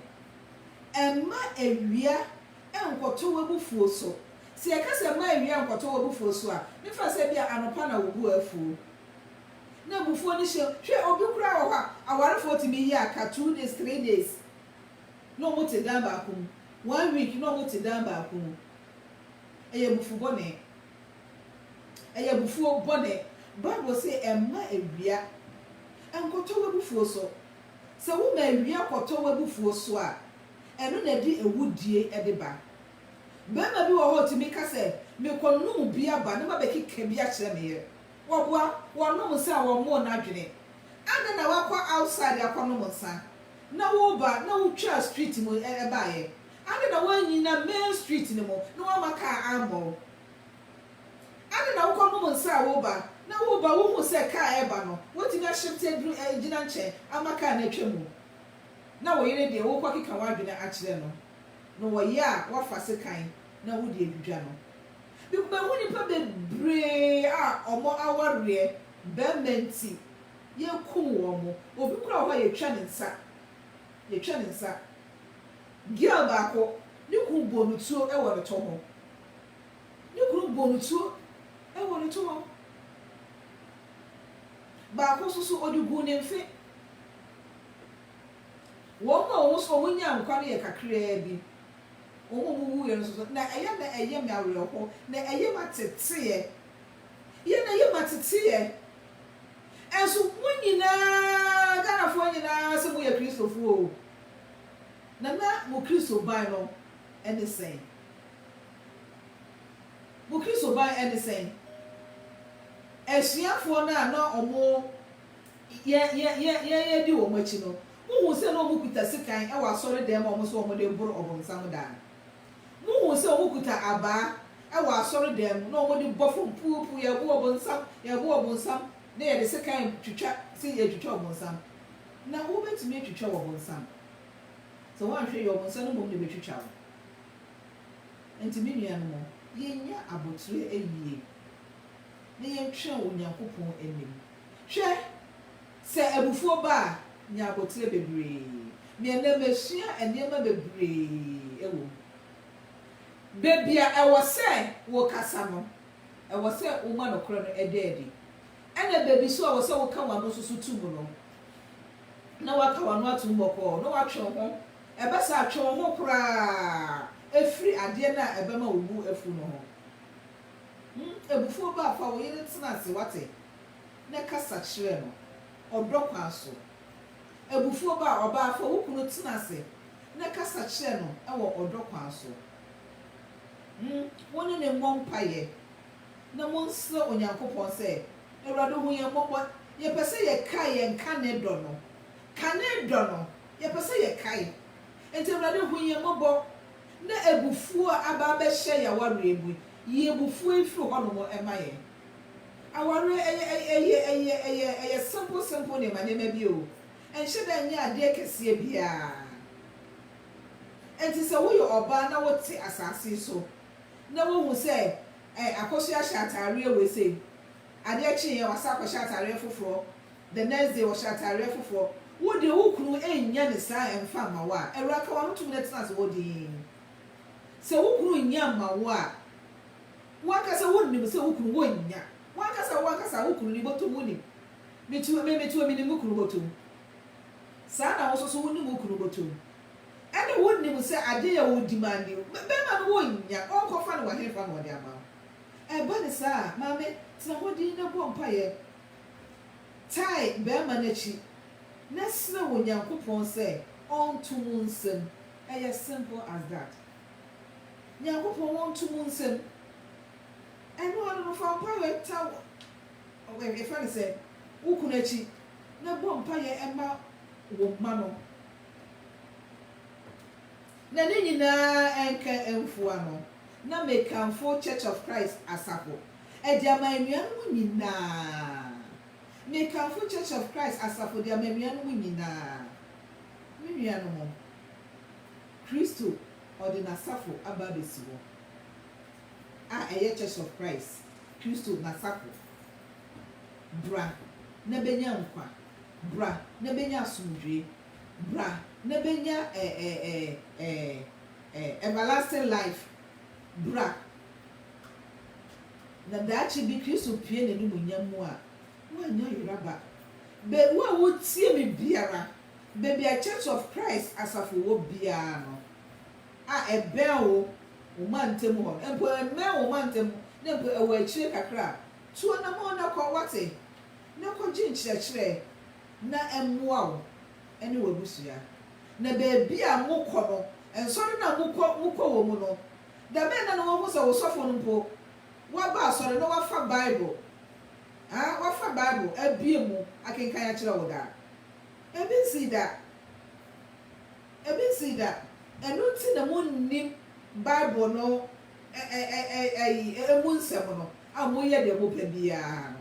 ɛmma awia nkɔtɔ w'abufuo so. Sɛ yɛka sɛ mma awia nkɔtɔ w'abufuo so a, ne fa sɛ ebia anɔpa na wo bo afuo, na abufuo no hyɛ wo. Hwɛ, obi koraa wɔ hɔ a, awarefoɔ tumi yɛ aka two days, three days na wɔte dan baako mu, one week na wɔte dan baako mu. Ɛyɛ abufuo bɔne. Ɛyɛ abufuo bɔne. Bible se mma awia nkɔtɔ w'abufuo so. Sɛ woma awia kɔtɔ w'abufuo so a, ɛno na ɛde awudie de ba. Barima bi wɔ hɔ a ɔtumi ka sɛ, Mekɔnom bi aba na mabɛkeka bi akyerɛ me yere. Wɔboa, wɔnom nsa a wɔmmɔɔ no adwene. Adɛn na woakɔ outside akɔnom nsa, na woreba na wotwaa street mu baeɛ? Adɛn na woannyina main street no mu na woamma kaa ammɔ wo? Adɛn na wokɔnom nsa a woreba, na woreba wohuu sɛ kaa reba no, woatumi ahyepte aduru agyina nkyɛn ama kaa no atwa mu? na wo yere deɛ worekɔkeka w'adwene akyerɛ no no wɔ yea a woafa sekan na wode adwidwa no. Mekɔmahu nnipa bebree a wɔn awareɛ barima nti yɛkum wɔn. Obi koraa wɔ hɔ a yɛtwa ne nsa, yɛtwa ne nsa. Girl baako, ne kunu bɔɔ no tuo wɔ ne to ho, ne kunu bɔɔ no tuo wɔ ne to ho. Baako nso so ɔde guu ne mfe. Wɔn mu a wɔn nso wonyaa nkwa no yɛ kakraa bi. Wɔn a wɔwuiɛ no nso, na ɛyɛ na ɛyɛ me awerɛhoɔ, na ɛyɛ m'ateteɛ. Yɛ na ɛyɛ m'ateteɛ. Nso mo nyinaa, Ghanafoɔ nyinaa sɛ moyɛ Kristofoɔ o, na na mo Kristoban no ne sɛn? Mo Kristoban ne sɛn? Asuafoɔ no a na wɔn. Yɛn yɛn yɛn yɛn yɛn di wɔn akyi no, mo hu sɛ na wɔn kuta sekan ɛwɔ asɔre dan mu a wɔn sɛ wɔn de boro ɔbonsam daa no? Mo hu sɛ wɔn kuta abaa ɛwɔ asɔre dan mu na wɔn de bɔ fam puu puu yɛ bo ɔbonsam yɛ bo ɔbonsam na yɛde sekan twitwa sɛ yɛ twitwa ɔbonsam? Na wo bɛ tumi atwitwa wɔ bonsam? Sɛ wɔn anhwɛ yie ɔbonsam no mmom na ɛbɛ twitwa wo. Ɛnti me nua no mo yɛ nya aboterɛ ɛyie. na yɛntwɛn wɔ Onyankopɔn anim. Hwɛ, sɛ abufuo ba a, nya abotire bebree. Me ɛnnɛ masua nneɛma bebree wɔ mu. Baabi a ɛwɔ sɛ wokasa no, ɛwɔ sɛ woma nokorɛ no da adi. Ɛna baabi nso a ɛwɔ sɛ woka w'ano nso so to mu no, na woaka w'ano atom bɔkɔɔ, na woatwe wo ho. Ɛba saa a, twe wo ho koraa firi adeɛ no a ɛbɛma wo bo afu no ho. Hu abufuo ba a, fa wo yere tena ase, woate, na kasa kyerɛ no ɔdɔ kwan so. Abufuo ba a, ɔbaa, fa wo kunu tena ase na kasa kyerɛ no wɔ ɔdɔ kwan so. Hu wo ne no mmɔ mpaeɛ na monsrɛ Onyankopɔn sɛ, Awurade hu yɛn mmɔbɔ, yɛpɛ sɛ yɛkae yɛn kane dɔ no. Kane dɔ no, yɛpɛ sɛ yɛkae. Enti Awurade hu yɛn mmɔbɔ na abufuo a aba abɛhyɛ yɛn awareɛ mu yi, yi abufuo yi firi hɔnom ma yɛn. Awareɛ, ɛyɛ, ɛyɛ, ɛyɛ, ɛyɛ, ɛyɛ simple, simple nneɛma, nneɛma bi o. Ɛnhyɛ da nyɛ adeɛ kɛseɛ biara. Ɛnti sɛ woyɛ ɔbaa na wote asase so, na wohu sɛ, ɛ, akɔsoɛ ahyɛ ataareɛ wei sei, Adeɛ kyeeɛ wasan akɔhyɛ ataareɛ foforɔ the next day ɔhyɛ ataareɛ foforɔ wo deɛ wo kunu nnyɛ no saa ɛmfa mma wo a awura ka wano tumi na tena ase hɔ dinn sɛ wo kunu nnyɛ mma wo a wo ankasa wo nim sɛ wo kunu wo nnya wo ankasa wo ankasa wo kunu ni bɔtɔm wo nim me tu me me tu me nim me kunu bɔtɔm saa na wo nso so wo nim wo kunu bɔtɔm ɛne wo nim sɛ adeɛ yɛ wo demanding bɛrima no wo nnya ɔnkɔ fa no wɔ he fa na ɔde ama wo. Ɛba no saa a, maame, tena hɔ dinn na bɔ mpaeɛ. Tae barima no akyi na srɛ Onyankopɔn sɛ ɔnto mo nsam. Ɛyɛ simple as that. Nyankopɔn ɔnto mo nsam. Ɛno ara no, fa mpaeɛ ta wo, yɛfrɛ no sɛ, wo kunu akyi na bɔ mpaeɛ ma wo mma no. Na ne nyinaa nka mfua no, na mekamfo Church of Christ asafo de ama anuanom nyinaa. Mekamfo Church of Christ asafo de ama anuanom nyinaa. Me nuanom, Kristo ɔde n'asafo aba abɛsi hɔ, a ɛyɛ Church of Christ, Kristo n'asafo. Bra na bɛnya nkwa. Bra na bɛnya asomdwoeɛ. bra na bɛnya everlasting life, bra na daakye bi Kristo pue n'animuonyam mu a, woanya yera ba. Bɛ wo a wotie me biara, baabi a Church of Christ asafo wɔ biara no, a ɛbɛn wo, wo mantam hɔ no, mpo ɛmmɛn wo mantam ho na mpo ɛwɔ akyire kakra a, tu anamɔn na kɔ, woate, na kɔgye nkyerɛkyerɛ. na ɛmmoa wo ne w'abusua. Na baabi a mokɔ no, nsɔre no a mokɔ mokɔ wɔ mu no, da bɛn na na wɔahu sɛ wo sɔfo no mpo waba asɔre na wafa Bible a wafa Bible abue mu akenkan akyerɛ wo da? Ebi nsii da. Ebi nsii da. Ɛno nti na munnim Bible no ɛ ɛ ɛ ɛ ɛyi emu nsɛm no a moyɛ deɛ mopɛ biara no.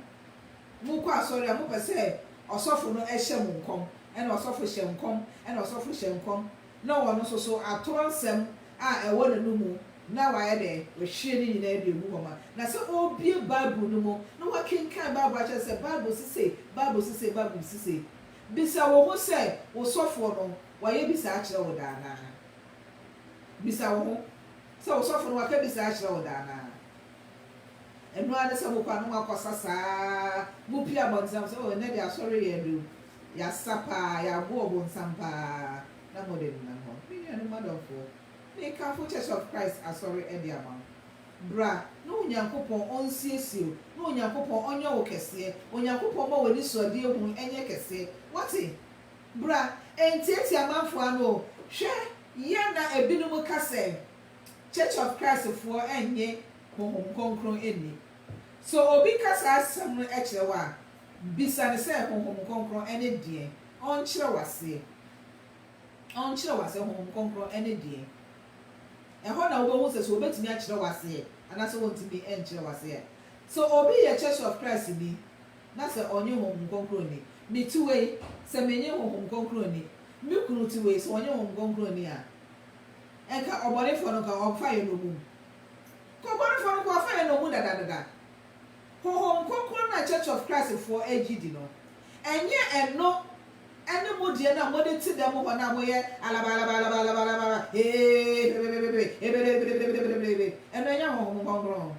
Mokɔ asɔre a, mopɛ sɛ ɔsɔfo no hyɛ mo nkɔm, ɛna ɔsɔfo hyɛ nkɔm, ɛna ɔsɔfo hyɛ nkɔm, na ɔno nso so atorɔ nsɛm a ɛwɔ n'anomu na wayɛ dɛ, wahwie ne nyinaa de agu hɔ ma. Na sɛ ɔrebue Bible no mu na wakenkan Bible akyerɛ sɛ Bible se sei, Bible se sei, Bible se sei. Bisa wo ho sɛ, wo sɔfoɔ no, wayɛ bi saa akyerɛ wo da anaa? Bisa wo ho sɛ, wo sɔfo no, waka bi saa akyerɛ wo da anaa? Ɛno ara ne sɛ mokɔ a na moakɔsa saa ara. Mopue abɔntenam sɛ, Oh, ɛnnɛ deɛ asɔre yɛ duru. Yɛasa pa ara, yɛago ɔbonsam pa ara, na mode nenam hɔ. Me nuanom adɔfoɔ, mekamfo Church of Christ Asɔre de ama wo. Bra na Onyankopɔn ɔnsiesie wo, na Onyankopɔn ɔnyɛ wo kɛseɛ. Onyankopɔn mma w'anisoadeɛ hunu nyɛ kɛseɛ. Woate? Bra. Ɛntiatia amanfoɔ ano o. Hwɛ, yɛ na ebinom ka sɛ, Church of Christ foɔ nnye Honhom Kronkron nni. So obi ka saa asɛm no kyerɛ wo a, bisa no sɛ, Honhom Kronkron ne deɛn? Ɔnkyerɛ wo aseɛ. Ɔnkyerɛ wo aseɛ, Honhom Kronkron ne deɛn? Ɛhɔ na wobɛhu sɛ, sɛ ɔbɛtumi akyerɛ wo aseɛ anaasɛ ɔntumi nkyerɛ wo aseɛ. Sɛ obi yɛ Church of Christ ni na sɛ ɔnnye Honhom Kronkron nni, me ti wei, sɛ mennye Honhom Kronkron nni, me kunu ti wei, sɛ ɔnnye Honhom Kronkron nni a, Nka ɔbɔnefoɔ no nka ɔmfa yɛn nnommum. Nka ɔbɔnefoɔ no nka ɔmfa yɛn nnommum dadadada. Honhom Kronkron no a Church of Christ foɔ gye di no, ɛnyɛ ɛno ne mo deɛ no a mode te dɛm hɔ no a moyɛ alabaalabaalabaalabaalabaala, eeii bebebebebe, ebelebelebelebelebelebelebele, ɛno ɛnyɛ Honhom Kronkron.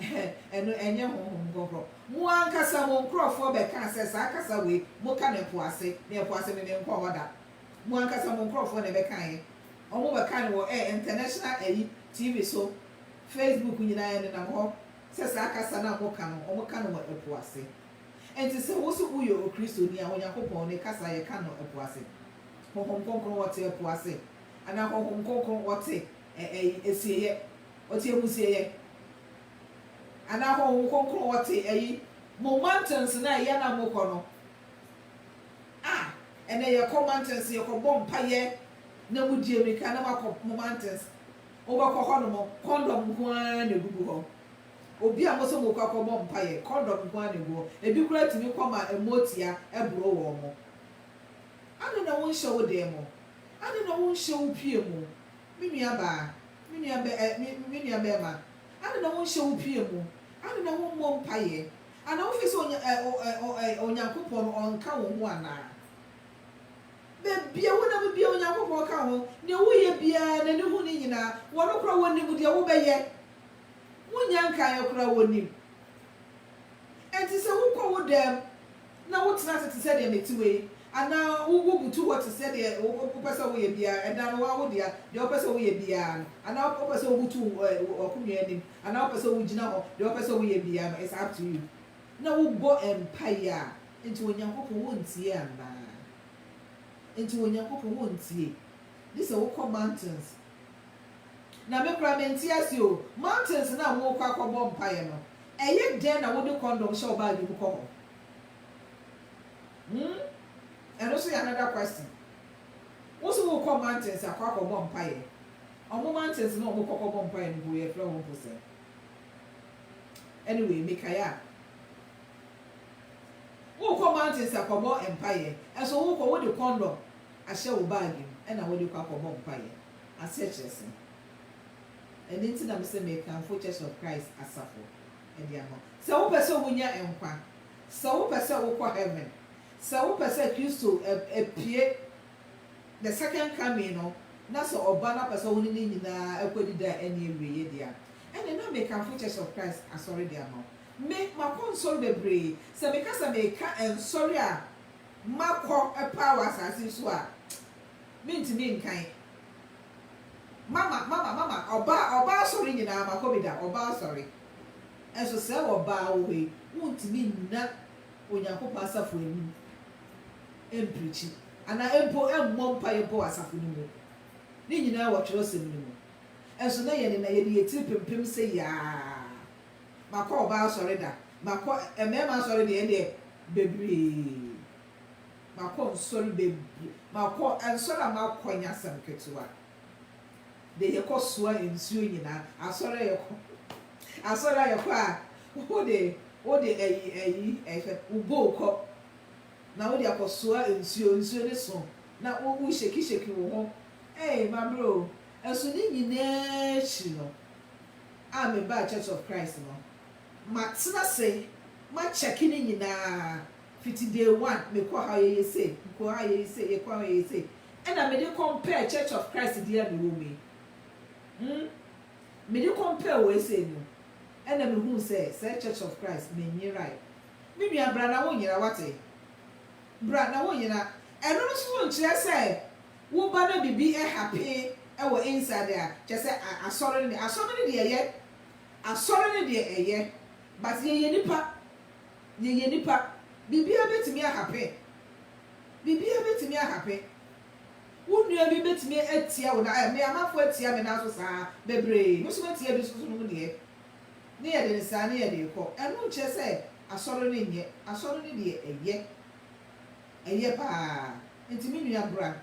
Ɛhɛ, ɛno ɛnyɛ Honhom Kronkron. Mo ankasa mo nkorɔfoɔ bɛkaa sɛ saa kasa wei moka no ɛpo ase, na ɛpo ase me menkɔ hɔ da. Mo ankasa mo nkorɔfoɔ na ɛbɛkaeɛ. Ɔmo bɛka no wɔ ɛɛ international ayi TV so, Facebook nyinaa ɛnenam hɔ sɛ saa kasa no a mo ka no ɔmo ka no wɔ ɛpo ase. Ɛnti sɛ wo so wo yɛ okristoni a Onyankopɔn ne kasa yɛ ka no ɛpo ase. Honhom kronkron ɔte ɛpo ase anaa honhom kronkron ɔte ɛ ɛyi asieyɛ ɔte amusieyɛ anaa honhom kronkron ɔte ɛyi mo mountains no a ɛyɛ no a mo kɔ no. Ah, ɛnɛ yɛkɔ mountains, yɛkɔbɔ mpaeɛ na mo die mirika na moakɔ mo mountains. Mobɛkɔ hɔ nom, condom nko ara na ɛgugu hɔ. Obi a mose morekɔ akɔbɔ mpaeɛ, condom nko ara na ɛgu hɔ. Ɛbi koraa tumi kɔ ma ɛmmoatia boro wɔn mo. Adɛn na wonhyɛ wo dan mu? Adɛn na wonhyɛ wo pie mu? Me nua baa, me nua bɛ, eh, me, me nua bɛɛma, adɛn na wonhyɛ wo pie mu? Adɛn na wommɔ mpaeɛ? Anaa wofi sɛ Onya ɛ o ɛ o ɛ Onyankopɔn no ɔnka wo ho anaa? Baabiara wonam biara Onyankopɔn ka wo ho, nea woyɛ biara N'ani hu ne nyinaa, wɔno koraa wɔnim deɛ wobɛyɛ, wonnya nkaeɛ koraa wɔnim. Enti sɛ wokɔ wo dam na wotena ase te sɛ deɛ mete wei, anaa wo wobutu hɔ te sɛ deɛ wo wo wopɛ sɛ woyɛ biara, ɛda no woa wo dea, deɛ wopɛ sɛ woyɛ biara no, anaa wopɛ sɛ wobutu wo ɛ w'akonnwa anim, Anaa wopɛ sɛ wogyina hɔ deɛ wopɛ sɛ woyɛ biaa no it's up to you na wobɔ mpaeɛ a nti Onyankopɔn wontie anaa nti Onyankopɔn wontie gye sɛ wokɔ mountains na me koraa mente aseɛ o mountains no a wokɔ akɔbɔ mpaeɛ no ɛyɛ dɛn na wode condom hyɛ wo baage mu kɔ hɔ hmm ɛno nso yɛ another question wo se wokɔ mountains akɔ akɔbɔ mpaeɛ Ɔmo mountains na ɔmo kɔ kɔbɔ mpaeɛ no mpo yɛfrɛ hɔ mpo sɛn? Anyway mekae a. Wokɔ mountains akɔbɔ mpaeɛ ɛso wokɔ wode condom ahyɛ wo bag mu ɛna wode kɔ akɔbɔ mpaeɛ aseɛ kyerɛ sɛn? Ɛno nti na mese mekamfo church of Christ asafo ɛde ama wo sɛ wopɛ sɛ wonya nkwa sɛ wopɛ sɛ wokɔ heaven sɛ wopɛ sɛ Kristo ɛpue The Second Coming no, na sɛ ɔba na ɔpɛ sɛ ɔne ne nyinaa kɔ adi da a ɛnni awieɛ deɛ a, ɛnneɛ na mekamfo Church of Christ asɔre deɛ ama wo. Me, makɔ nsɔre bebree. Sɛ meka sɛ meka nsɔre a makɔ paa wɔ asaase yi so a, mentumi nkan. Mama, mama, mama, ɔbaa, ɔbaa asɔre nyinaa makɔ bi da, ɔbaa asɔre. Nso sɛ ɔbaa wɔ hɔ yi, wontumi nna Onyankopɔn asafo anim. ɛmprikyi, anaa mpo ɛmmɔ mpaeɛ mpo wɔ asafo no mu. Ne nyinaa wɔ twerɛsɛm no mu. Nso na yɛne na yɛde yɛn tiri pempem sɛ yaa. Makɔ ɔbaa asɔre da, makɔ mmarima asɔre deɛ ɛndeɛ bebree. Makɔ nsɔre bebree, makɔ nsɔre a makɔ nyɛ asɛm ketewa. de yɛkɔ soa nsuo nyinaa asɔre a yɛkɔ asɔre a yɛkɔ a wode wode ayi ayi ɛfɛ wo bowl kɔ na wode akɔ soa nsuo nsuo ne so na wo wo sheki sheki wo ho ee mabrɛ o ɛso ne nyinaa akyiri no a mebaa Church of Christ no matena se makyɛke ne nyinaa fiti day one mekɔ ha yɛyɛ sei mekɔ ha yɛyɛ sei yɛkɔ ha yɛyɛ sei Ɛna mede compare Church of Christ deɛ a mewɔ mu yi hmm mede compare wei sei no ɛna mehuu sɛ sɛɛ Church of Christ menyerae me nua bra na wonyera wate bra na wonyera ɛno no nso nkyerɛ sɛ woba na bibi happen wɔ inside a kyerɛ sɛ asɔre no deɛ asɔre no deɛ ɛyɛ asɔre no deɛ ɛyɛ but yɛyɛ nipa yɛyɛ nipa biribiara bɛtumi ahappen Biribiara bɛtumi ahape. Wo nua bi bɛtumi atia wo na, me amafo atia me nan so saa, bebree. Me nso mɛtia bi so, so nom deɛ. Ne yɛde no saa, ne yɛde rekɔ. Ɛno nkyerɛ sɛ asɔre no nyɛ. Asɔre no deɛ, ɛyɛ. Ɛyɛ pa ara. Enti me nua bra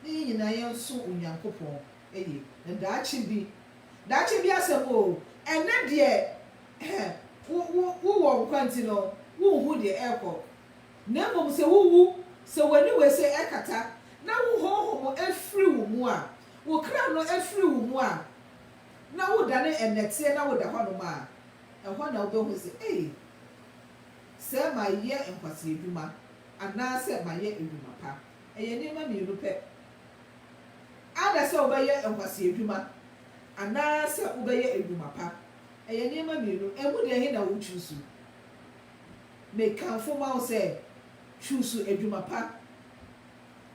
na yɛn nyinaa yɛnsom Onyankopɔn yie. Na daakye bi, daakye bi asɛm o, ɛnnɛ deɛ, wo, wo, wowɔ nkwa nti no, wonhu deɛ ɛrekɔ. Na mmom sɛ wuwu, sɛ w'aniwa ase kata, na wo honhom firi wo mu a, wo kra no firi wo mu a, na wodane nnɛteɛ na woda hɔnom a, ɛhɔ na wobɛhu sɛ, Ei, sɛ mayɛ nkwaseadwuma anaasɛ mayɛ adwuma pa. Ɛyɛ nneɛma mmienu pɛ. Either sɛ wobɛyɛ nkwaseadwuma anaasɛ wobɛyɛ adwuma pa. Ɛyɛ nneɛma mmienu. Ɛmu deɛ ɛhe na wo choose? Mekamfo ma wo sɛ chuusu adwuma pa.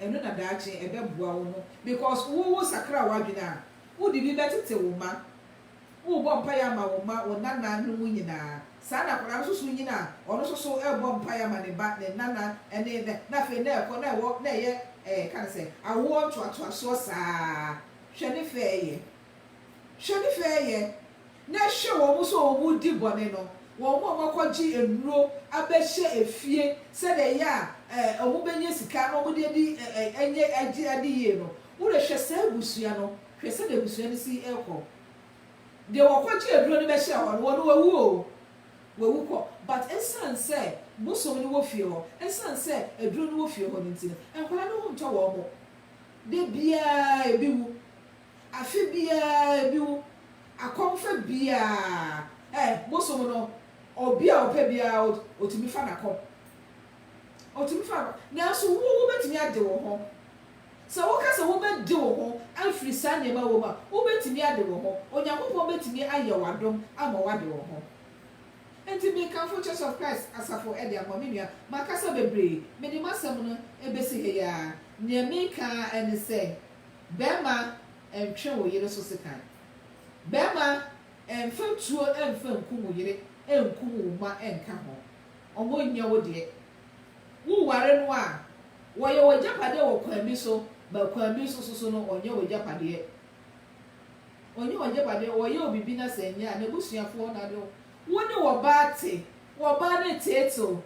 Ɛno na daakye ɛbɛboa wo ho because wo wo sakra w'adwene a, wode bi bɛtete wo mma. Wobɔ mpaeɛ ama wo mma, wo nana nom nyinaa. Saa na akwadaa no nso so nyini a, ɔno nso so rebɔ mpaeɛ ama ne ba, ne nana ne ne na afei na ɛkɔ na ɛwɔ na ɛyɛ ɛɛ yɛka no sɛ awoɔ ntoatoasoɔ saa ara. Hwɛ ne fɛɛyɛ. Hwɛ ne fɛɛyɛ, na hwɛ wɔn nso a wɔredi bɔne no, wɔn a wɔakɔgye nnuro abɛhyɛ efie sɛdeɛ ɛyɛ a ɛ, wɔbɛnya sika na wɔde adi ɛ, ɛ, ɛnyɛ agye ade yie no. Wodeɛ hwɛ saa abusua no, hwɛ sɛdeɛ abusua no si rekɔ. Deɛ wɔkɔgyee aduro no bɛhyɛɛ hɔ no, wɔn no wawu o, wawu kɔ, but ɛsiane sɛ bosom no wɔ fie hɔ, ɛsiane sɛ aduro no wɔ fie hɔ no nti no, nkwadaa no ho ntɔ wɔn. Da biara ebi wu. Afe biara bi wo akɔmfa biara ɛ bosom no ɔbi a ɔpɛ biara ot otumi fa na kɔ otumi fa nakɔ nanso wo wobɛtumi ade wo ho sɛ woka sɛ wobɛde wo ho afiri saa nneɛma wɔ mu a wobɛtumi ade wo ho Onyankopɔn bɛtumi ayɛ wo adom ama woade wo ho enti mekamfo Church of Christ asafo ɛde ama me nua makasa bebree mede m'asɛm no ɛbɛsi ha yi ara nea meka ara ne sɛ Bɛma ntwe wo yere so sekan. Bɛma mfa tuo mfa nkum wo yere nkum wo mma nka ho. Ɔmo nyɛ wo deɛ. Wo ware no a, wɔyɛ w'agyapadeɛ wɔ kwan bi so, but kwan bi so soso no ɔnyɛ w'agyapadeɛ. Ɔnyɛ w'agyapadeɛ, ɔyɛ wo bibi na sɛ nyɛ a, n'abusuafoɔ na de wo. Wo ne w'ɔbaa te, w'ɔbaa no teetew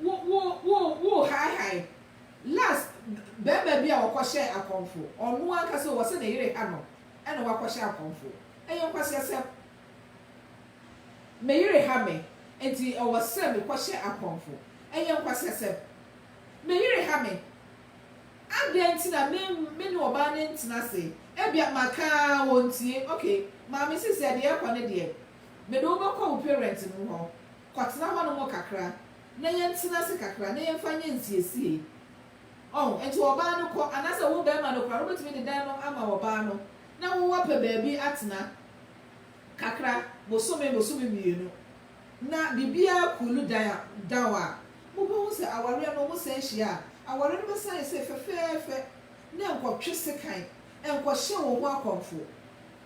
Wo wo wo wo hae hae. Last bɛɛma bi a ɔkɔ hyɛɛ akɔmfo ɔno ankasa o ɔsɛ ne yere ha no ɛna wakɔ hyɛ akɔmfo ɛyɛ nkwasiasɛm me yere ha me nti ɛwɔ sɛ me kɔ hyɛ akɔmfo ɛyɛ nkwasiasɛm me yere ha me adɛn nti na me me ne ɔbaa no ntena se ebia maka a wɔntie ok maame sisi a deɛ ɛkɔ ne deɛ mede wo bɛkɔ wo parents no hɔ Kɔtena hɔnom kakra, na yɛntena ase kakra, na yɛmfa nyɛ nsiesiei. Oh, enti ɔbaa no kɔ. Anaasɛ wo barima no koraa no, wobɛtumi de dan no ama ɔbaa no, na wo woapɛ baabi atena kakra, bosome, bosome mmienu, na biribiara coolu dan down a, mobɛhu sɛ awareɛ no, wɔsan hyia a, awareɛ no bɛsan ayɛ sɛ fɛfɛɛfɛ, na nkɔtwe sekan, nkɔhyɛ wo ho akɔmfo.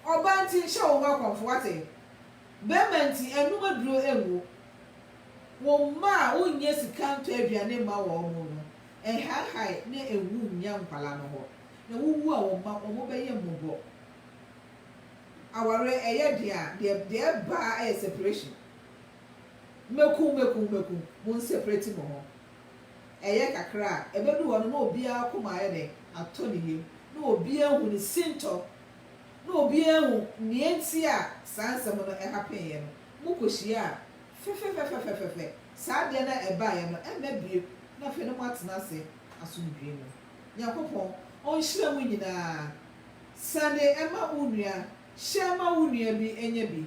Ɔbaa nti, nhyɛ wo ho akɔmfo, woate? Bɛma nti ɛnnom aduro ɛngu wo mma a wonnya sika ntɔ aduane mma wɔn no, ɛnhahae na ɛnwu nnya nkwadaa no hɔ. Na wowu a wo mma wɔn bɛyɛ mmɔbɔ. Awareɛ ɛyɛ den a, deɛ deɛ ɛba ara yɛ separation. Mɛku mɛku mɛku, mo nseprɛti mo ho. Ɛyɛ kakra a, ɛbɛduru hɔ no na obiara akoma ayɛ dɛn? Atɔ ne yam. Na obiara ahu ne sintɔ. na obi anhu nea enti a saa nsɛm no hapenee no, mokohyia a, fɛfɛfɛfɛfɛfɛfɛ, saa adeɛ no a ɛbaeɛ no mma bio, na afei na moatena ase asomdwoeɛ mu. Nyankopɔn Ɔnhyira mo nyinaa. Sane ma wo nua, hyɛ ma wo nua bi nyɛ bi,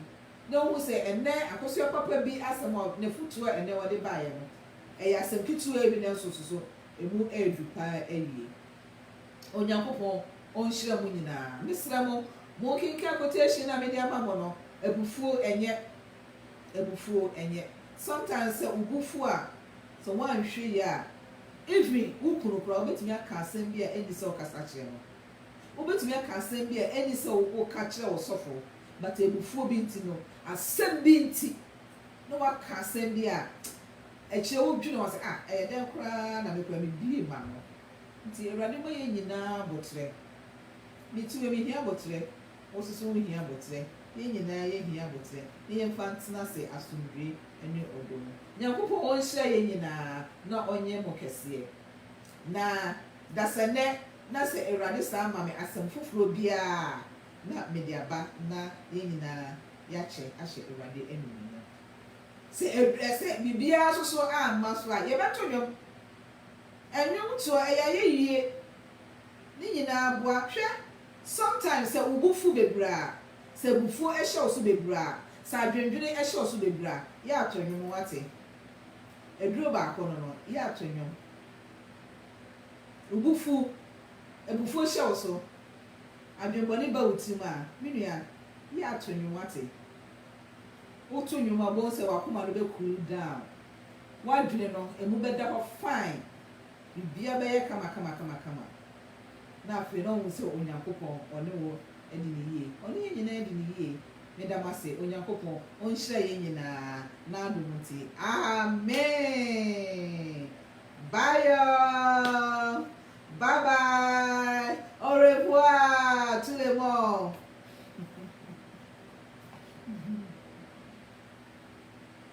na ɔnhu sɛ ɛnnɛ akosua papa bi asɛm a n'afotuo a ɛnnɛ wɔde baeɛ no, ɛyɛ asɛm ketewaa bi nanso susu, ɛmu ɛreduru paa awie. Onyankopɔn ɔnhyira mo nyinaa. Me srɛ mo, mo nkenkan quotation a me de ama mo no, abufuo ɛnyɛ, abufuo ɛnyɛ. Sometimes sɛ wo bo fu a, sɛ woanhwɛ yie a, even wo kunu koraa wobɛtumi aka asɛm bi a ɛnni sɛ wokasa kyerɛ no. Wobɛtumi aka asɛm bi a ɛnni sɛ woka kyerɛ wo sɔfoɔ, but abufuo bi nti no, asɛm bi nti, na woaka asɛm bi a, akyire wodwene ho a, sɛ ah, ɛyɛ dɛn koraa na me koraa me bue m'ano. Nti Awurade bɔ yɛn nyinaa aboterɛ. Me too me hia aboterɛ, wo soso wo hia aboterɛ, yɛn nyinaa yɛ hia aboterɛ na yɛn fa ntena ase asomdwie ɛne ɔdɔ mu. Nyankopɔn ɔnhyira yɛn nyinaa na ɔnyɛ mo kɛseɛ. Na dasɛnɛ na sɛ Awurade san ma me asɛm foforɔ biara a na mede aba na yɛn nyinaa yɛakyɛ ahyɛ Awurade animuonyam. Sɛ ɛdurɛ sɛ biribiara soso amma so a yɛbɛto dwom. Ɛnwom to a ɛyɛ ayɛyie ne nyinaa boa. Hwɛ sometimes sɛ wo bo fu bebree a, sɛ abufuo hyɛ wo so bebree a, sɛ adwendwene hyɛ wo so bebree a, yɛ a to nnwom wate. Aduro baako no no, yɛ a to nnwom. Wo bo fu, abufuo hyɛ wo so, adwenbɔne ba wo tirim a, me nua, yɛ a to nnwom wate. Wo to nnwom a, wobɛhu sɛ w'akoma no bɛcool down. w'adwene no, ɛmu bɛda hɔ fine, biribiara bɛyɛ kamakamakama. Na afei na wohu sɛ Onyankopɔn, Ɔne wo adi no yie. Ɔne yɛn nyinaa adi no yie. Meda mo ase. Onyankopɔn Ɔnhyira yɛn nyinaa N'adom nti. Amen. Bye all. Bye bye. Au revoir tout le monde.